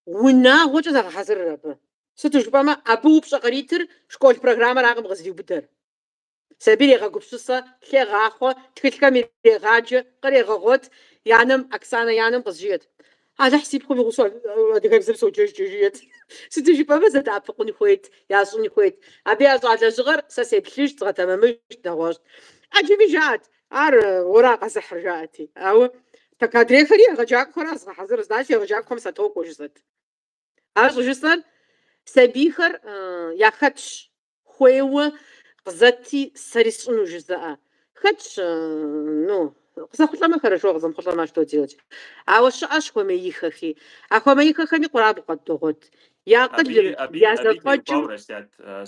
унагъуэкӏэ загъэхьэзырыр абы. Сыту жыпӏэмэ, абы упщӏэ къритыр школ программэракъым къызриубыдэр. Сабийр егъэгупсысэ, лъегъахъуэ, тхылъхэм ирегъаджэ, кърегъэгъуэт, и анэм, Оксанэ и анэм къызжиӏэт. Алыхь си пхъум игъусэу адыгэбзэр соджэжкӏэ жиӏэт. Сыту жыпӏэмэ, зэдэӏэпыкъун хуейт, ящӏын хуейт. Абы ящӏа лэжьыгъэр сэ сеплъыжт, згъэтэмэмыжт, нэгъуэщӏт. ӏэджэми жаӏэт, Ар уэра къэзыхьыр, жаӏэти. Ауэ так адрейхэри егъэджакӏуэхэра зыгъэхьэзыр, значит егъэджакӏуэхэм сатокӏуэ жысӏэт. Ар щӏыжысӏэр сабийхэр яхэтщ хуейуэ къызэти сэри сщӏыну жызыӏэ. Хэтщ, ну, къызэхъулӏэмэ хорошо, къызэмыхъулӏэмэ что делать. Ауэ щыӏэщ хуэмеихэхи. А хуэмеихэхэми къурабгъу къыдогъуэт. Я акъылым, я зэфӏэкӏым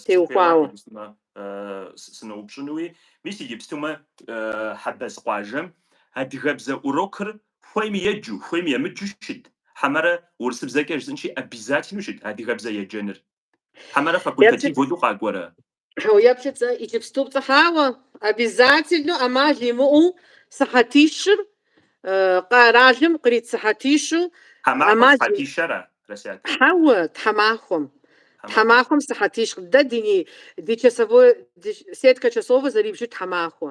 теухуауэ. сыноупщӏынуи, мис иджыпстумэ Хьэбэз къуажэм адыгэбзэ урокыр хуейми еджу, хуейми емыджу щыт, хьэмэрэ урысыбзэкӏэ жысӏынщи, обязательнэу щыт адыгэбзэ еджэныр. Хьэмэрэ факультатив хуэду къакӏуэрэ? Еплъыт, иджыпступцӏэ, хьэуэ, обязательнэу, ӏэмал имыӏэу сыхьэтищыр Къэралым кърит сыхьэтищу. Мазэм сыхьэтищ ара? Хьэуэ, тхьэмахуэм. Тхьэмахуэм сыхьэтищ. Дэ ди часовой, ди сеткэ часовэ зэрибжыр тхьэмахуэ.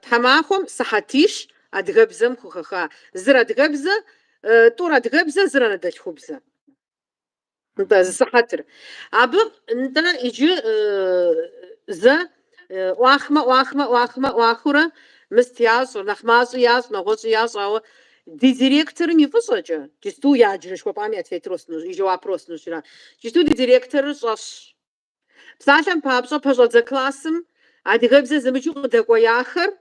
Тхьэмахуэм сыхьэтищ адыгэбзэм хухэха. Зыр адыгэбзэ, тӏур адыгэбзэ, зыр анэдэлъхубзэ. нтӏэ, зы сыхьэтыр. Абы, нтӏэ, иджы зэ ӏуахмэ, ӏуахмэ, ӏуахмэ, ӏуахыурэ мыст ящӏыр, нэхъ мащӏи ящӏ, нэгъуэщӏи ящӏ, ауэ ди директорым и фӏыщӏэкӏэ, джысту я адрей узыщӏэупщӏам я ответыр уэстынущ, и жэуапыр уэстынущ ара, джысту ди директорыр щӏэщ. Псалъэм папщӏэ, пэщӏэдзэ классым адыгэбзэ зымыджу къыдэкӏуеяхэр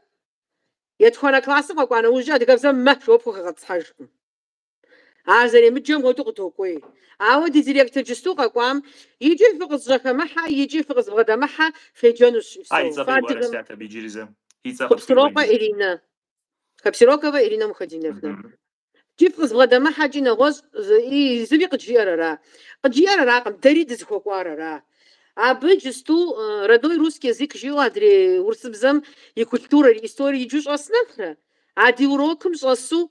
етхуанэ классым къэкӏуа нэужькӏэ адыгэбзэм ахэр щӏыпхуэгъэтӏысхьэжкъым. Ар зэремыджэм хуэдэу къыдокӏуей. Ауэ ди директор джысту къэкӏуам, Иджы фыкъызжьэхэмыхьэ, иджы фыкъызывгъэдэмыхьэ, феджэнущ и всё. Фыадыгэмэ. Хъупсырокъуэ Иринэ. Хъэпсироковэ Иринэ Мухэдиновнэ. Иджы фыкъызывгъэдэмыхьэ, икӏи нэгъуэщӏи зыри къыджиӏэр ара? Къыджиӏэр аракъым, дэри дызыхуэкӏуар ара? Абы джысту родной русский язык жиӏэу адрей урысыбзэм и культурэр, и историер иджу щӏэс нэхърэ, А ди урокым щӏэсу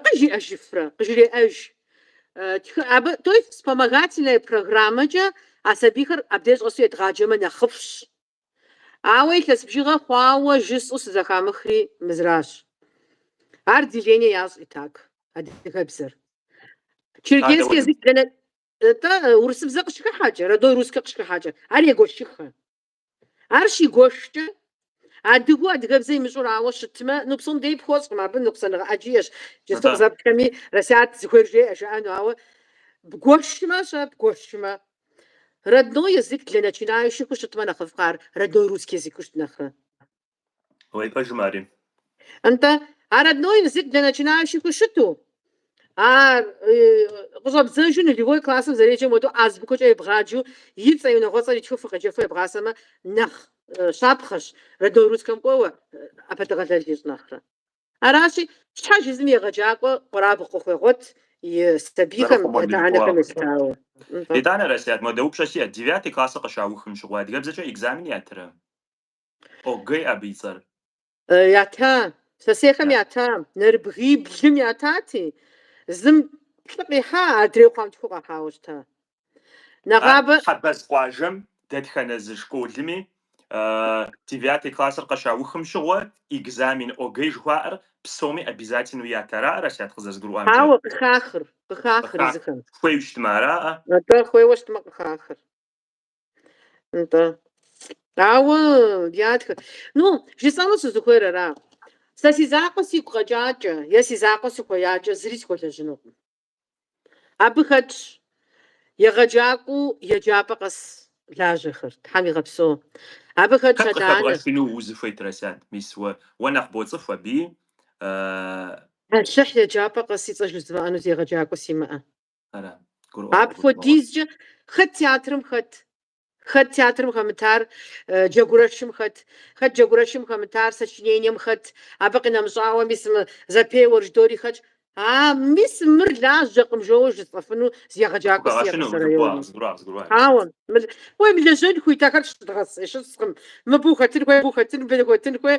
къыжиӏэ жыфрэ, къыжреӏэж. Тӏэ, абы, то есть вспомогательная программэкӏэ а сабийхэр абдеж щӏэсу едгъаджэмэ нэхъыфӏщ. Ауэ илъэс бжыгъэ хъуауэ жысӏэу сызэхамыхри мызращ. Ар деление ящӏ и так, адыгэбзэр. Черкесский язык нтӏэ, урысыбзэ къыщыхыхьэкӏэ, родной русскэ къыщыхыхьэкӏэ, ар егуэшыххэ. Ар щигуэшкӏэ, адыгэу адыгэбзэ имыщӏур ауэ щытмэ, ну псом дей пхуэщӏкъым, абы ныкъусаныгъэ ӏэджи иӏэщ. Джысту къызэплъми Расият зыхуейр жеӏэ жаӏэну, ауэ бгуэшмэ, щэ бгуэшмэ. Родной язык для начинающиху щытмэ нэхъыфӏкъэ ар родной русский языку щыт нэхърэ? уей, пэжмэ ари. Нтӏэ, а родной языку для начинающиху щыту, ар къыщӏэбдзэжу нулевой классым зэреджэм хуэду азбукэкӏэ ебгъаджу и цӏэ, и унагъуэцӏэр итхыфу къеджэфу ебгъасэмэ нэхъ щапхъэщ, родной русскэм кӏуэуэ ӏэпэдэгъэлэл ищӏ нэхърэ. Аращи, щхьэж езым егъэджакӏуэ къуэрабгъу къыхуегъуэт и сабийхэм, я адэ-анэхэм елъытауэ. Нтӏэ. Итӏанэ, Расият, модэ упщӏэ сиӏэт, девятый классыр къыщаухым щыгъуэ адыгэбзэкӏэ экзамени ятырэ? ОГЭ абы и цӏэр. Ята, сысейхэм ята, нэрыбгиблым ятати, зым плӏы къихьа, адрейу хъуам тху къахьауэ щыта. Нэгъабэ. Хьэбэз къуажэм дэтхэнэ зы школми девятый классыр къыщаухым щыгъуэ экзамен ОГЭ жыхуаӏэр псоми обязательнэу ятыр ара, Расият, къызэрызгурыӏуамкӏэ? Ауэ къыхахыр, къыхахыр езыхэм. Хуейуэ щытмэ араӏэ? Атӏэ, хуейуэ щытмэ къыхахыр. Нтӏэ. Ауэ ятхэ. Ну, жысӏэну сызыхуейр ара? Сэ си закъуэ сигу къэкӏакӏэ е си закъуэ сыхуеякӏэ зыри схуэлэжьынукъым. Абы хэтщ егъэджакӏуэу еджапӏэ къэс лажьэхэр. Тхьэм игъэпсэу. Абы хэтщ Хэт адэ-анэ. къыхэбгъэщыну узыхуейт, Расят? Мис уэ, уэ нэхъ боцӏыху абыи. Э, Алыхь еджапӏэ къэс и цӏэ жызмыӏэну зы егъэджакӏуэ симыӏэ. Апхуэдизкӏэ хэт театрым хэт? Хэт театрым хэмытар Джэгурэшым хэт? Хэт Джэгурэшым хэмытар сочинением хэт? Абы къинэмыщӏауэ мис мы зэпеуэр ждори хэтщ. А, мис мыр лажьэкъым, жоуэ жысӏэфыну зы егъэджакӏуэ сиӏэкъым районым. Ауэ, уей, мылэжьэн хуит ахэр, щыдгъэс, щыскъым. Мыбы ухэтын хуей, абы ухэтын хуей.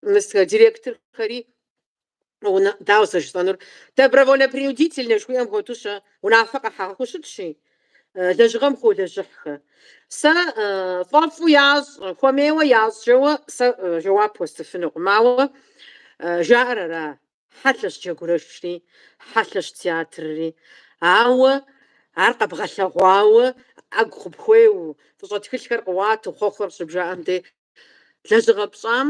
Мис а директорхэри ну дауэ сэ жысӏэнур добровольно-принудительнэ жыхуиӏэм хуэдэу щэ унафэ къэхьэгъэхэу щытщи, лэжьыгъэм хуолэжьыхьхэ. Сэ фӏэфӏу ящӏ, хуэмейуэ ящӏ жоуэ сэ жэуап уэстыфынукъым, ауэ жаӏэр ара, хьэлъэщ джэгурэшри, хьэлъэщ театрри. Ауэ ар къэбгъэлъэгъуауэ ӏэгу къыпхуеу, фӏыщӏэ тхылъхэр къыуату, хъуэхъухэр къыщыбжаӏэм де, Лэжьыгъэ пщӏам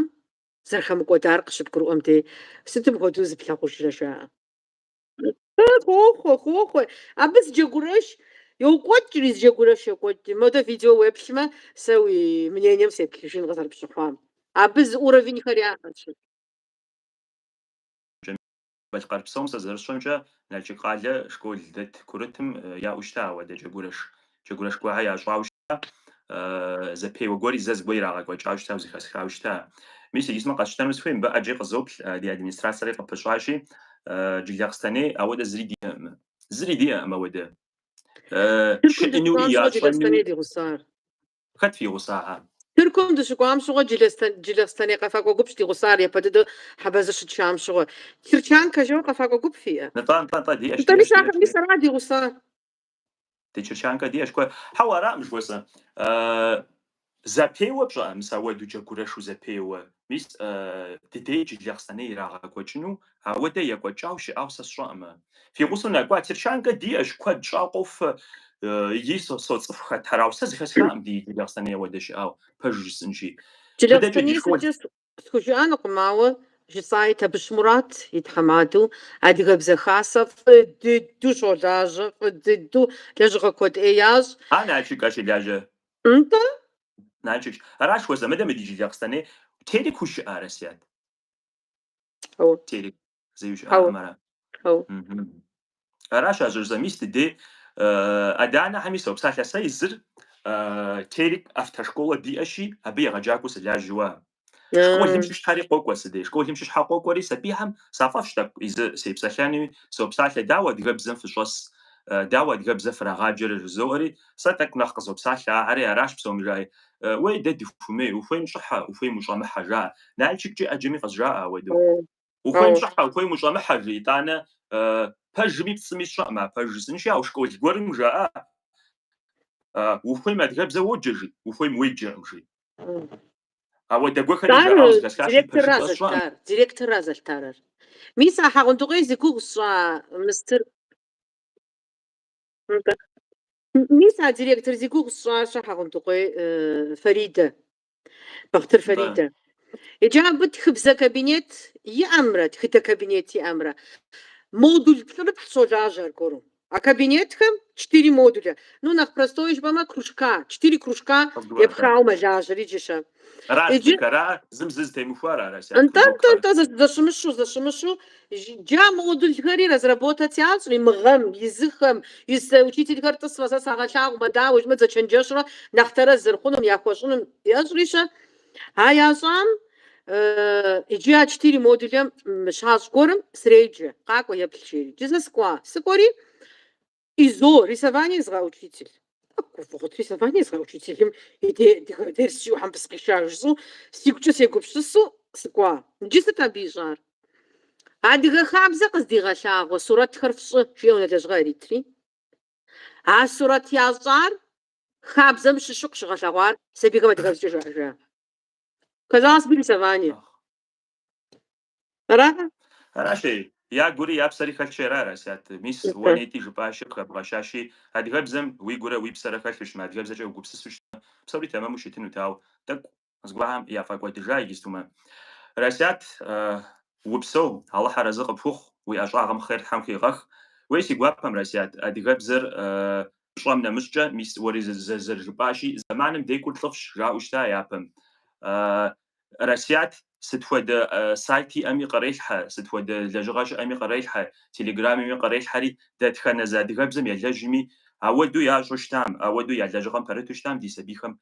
зэрыхэмыкӏуэдар къыщыбгурыӏуэм де, сытым хуэдэу зыплъагъужрэ жаӏэ. Хохъуэ, хохъуэ. Абы зы джэгурэш йокӏуэкӏри, зы джэгурэш йокӏуэкӏри. Модэ видео уеплъмэ, сэ уи мнением сеплъыжын къызэрыпщыхъуам. Абы зы уровеньхэр яӏэщ. Балъкъэр псом сэ зэрысщӏэмкӏэ, Налшык къалэ школ дэт курытым яӏэу щыта ауэдэ джэгурэш, джэгурэш гуэрхэ ящӏауэ щыта, зэпеуэ гуэри зэ зыгуэ ирагъэкӏуэкӏауэ щыта, зыхэсхауэ щыта. Мис иджы сымэ къэсщтэну сыхуей, мыбы ӏэджи къызоплъ, ди администрацэри къыпыщӏащи, Джылахъстэней ауэдэ зыри диӏэкъым, зыри диӏэкъым ауэдэ. Тыркум дыщыӏащ уэ Джылахъстэней ди гъусар. Хэт фи гъусахэр? Тыркум дыщыкӏуам щыгъуэ Джылахъстэней къэфакӏуэ гупщ ди гъусар япэ дыдэу Хьэбэзыр щытщам щыгъуэ. Терчанкэ жоуэ къэфакӏуэ гуп фиӏэ? Нтӏэ, нтӏэ, нтӏэ, диӏэщ, Нтӏэми, диӏэщ, диӏэщ, сахэми, диӏэщ. Мис арат ди гъусар. Ди Терчанкэ диӏэщ куэ. Хьэуэ, аракъым жыхуэсӏэ. Зэпеуэ щыӏэ, мис ауэду джэгурэшу зэпеуэ. Мис, ди дей Джылахъстэней ирагъэкӏуэкӏыну, ауэдэ екӏуэкӏау щыӏау сэ сщӏэӏымэ. Фи гъусэу нэкӏуа, Терчанкэ диӏэщ, куэд щӏауэ къофэ икӏи соцӏыху хэтхэр, ауэ сэ зыхэсхаӏым ди Джылахъстэней ауэдэ щыӏау, пэжу жысӏынщи. Джылахъстэнейкӏэ схужыӏэнукъым, ауэ жысӏаи Табыщ Мурат и тхьэмадэу Адыгэбзэ Хасэ фӏы дыдэу щолажьэ, фӏы дыдэу лэжьыгъэ куэд ӏей ящӏ. Ар Налшык щылажьэ. Нтӏэ, Налшык, аращ, уэ зэ мыдэ мы ди Джылахъстэней, Терек ущыӏа, Расят? Хьэуэ. Терек зэи ущыӏакъым ара? Хьэуэ. Мгм. Аращ а жьыр зэ мис ди дей адэ-анэхьэми сопсалъэ сэ изыр э, Терек автошколэ диӏэщи, абы егъэджакӏуэу сылажьэуэ ам. Школым щыщхьэри къокӏуэ си дей. Школым щыщхьэ къокӏуэри сабийхэм сфӏэфӏщ тӏэкӏу изы сепсэлъэнуи, сопсалъэ, дауэ адыгэбзэм фыщӏэс, дауэ адыгэбзэ фрагъаджэрэ жызоӏэри, сэ тӏэкӏу нэхъ къызопсалъэ, ахьэри аращ псоми жаӏи. Уей, дэ дыхумей, ухуейм щӏыхьэ, ухуейм ущӏэмыхьэ, жаӏэ. Налшыккӏи ӏэджэми къызжаӏэ ауэдэу. Ухуейм щӏыхьэ, ухуейм ущӏэмыхьэ, жи, итӏанэ пэжми пцӏыми сщӏэкъым, а пэж жысӏэнщи, ауэ школ гуэрым жаӏэ, ухуейм адыгэбзэ уоджэ, жи, ухуейм уеджэркъым, жи. Директорра зэлъытар, директорра зэлъытарэр. Мис а Хьэгъундыкъуей зи гугъу сщӏа мыстыр. Мис а директор зи гугъу сщӏа-щэ Хьэгъундыкъуей Фаридэ, Бахътыр Фаридэ. Иджы абы тхыбзэ кабинет иӏэмрэ тхыдэ кабинет иӏэмрэ модуль плӏырыплӏ щолажьэ аргуэру. А кабинетхэм четыре модуля. Ну, нэхъ простой жыпӏэмэ, кружка, четыре кружка епхауэ мэлажьэри иджы-щэ. Аращ. Иджы- дыкара зым зы зытемыхуар ара, Расят? Нтӏэ, нтӏэ, кружокхэр? нтӏэ, зэ- зэщымыщу, зэщымыщу. Ж- Джы а модульхэри разработать ящӏри мы гъэм, изыхэм, из э, учительхэр тӏысмэ, сэ сагъэлъагъумэ, дауэ жыпӏэмэ, дызэчэнджэщурэ нэхъ тэрэз зэрыхъунум, яхуэщӏынум ящӏри-щэ. А ящӏам иджы а четыре модулэм щащӏ гуэрым среджэ, къакӏуэ еплъ жери. Джы сэ сыкӏуа. Сыкӏуэри ИЗО, рисование езыгъэхь учитель. Гуфӏыгъут рисование езыгъэхь учителым и дерс зэӏухам сыкъиша жысӏэу, сигукӏэ сегупсысу сыкӏуа. Иджы сыт абы ищӏар? Адыгэ хабзэ къыздигъэлъагъуэ сурэтхэр фщӏы, жиӏэу унэ лэжьыгъэ иритри. А сурэт ящӏар Хабзэм щыщу къыщыгъэлъэгъуар сабийхэм адыгэбзэкӏэ жаӏэжа? Казалось бы, рисование. Ара? Аращи, я гури я псэри хэлъщи ара, Расят? Мис, уэ нетӏэ жыпӏащи, къыхэбгъэщащи, адыгэбзэм уи гурэ уи псэрэ хэлъу щытмэ, адыгэбзэкӏэ угупсысу щытмэ, псори тэмэму щытынут, ауэ, тӏэкӏу, Зыгуэрхэм яфӏэкӏуэдыжа иджыстумэ. Расят, упсэу, Алыхь арэзы къыпхухъу, уи ӏэщӏагъэм хъер Тхьэм хыуигъэх. Уей си гуапэм, Расят, адыгэбзэр пщӏэм нэмыщӏкӏэ, мис уэри зэрыжыпӏащи, зэманым декӏур лӏыфӏщ, жаӏэу щыта япэм. Расят, сыт хуэдэ сайт иӏэми кърелъхьэ, сыт хуэдэ лэжьыгъэ щыӏэми кърелъхьэ, телеграмми кърелъхьэри, дэтхэнэ зы адыгэбзэм елэжьми, ауэду ящӏу щытам, ауэду я лэжьыгъэм пэрыту щытам ди сабийхэм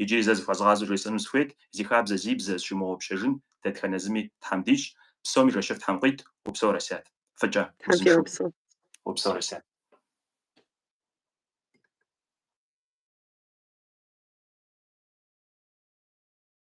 Иджыри зэ зыхуэзгъазэу жесӏэну сыхуейт, зи хабзэ, зи бзэ зыщымыгъупщэжын дэтхэнэ зыми Тхьэм дищӏ, псоми жэщыфӏ Тхьэм къит, упсэу Расят. Фӏыкӏэ, Тхьэм узыншэу фигъэпсэу. Упсэу Расят.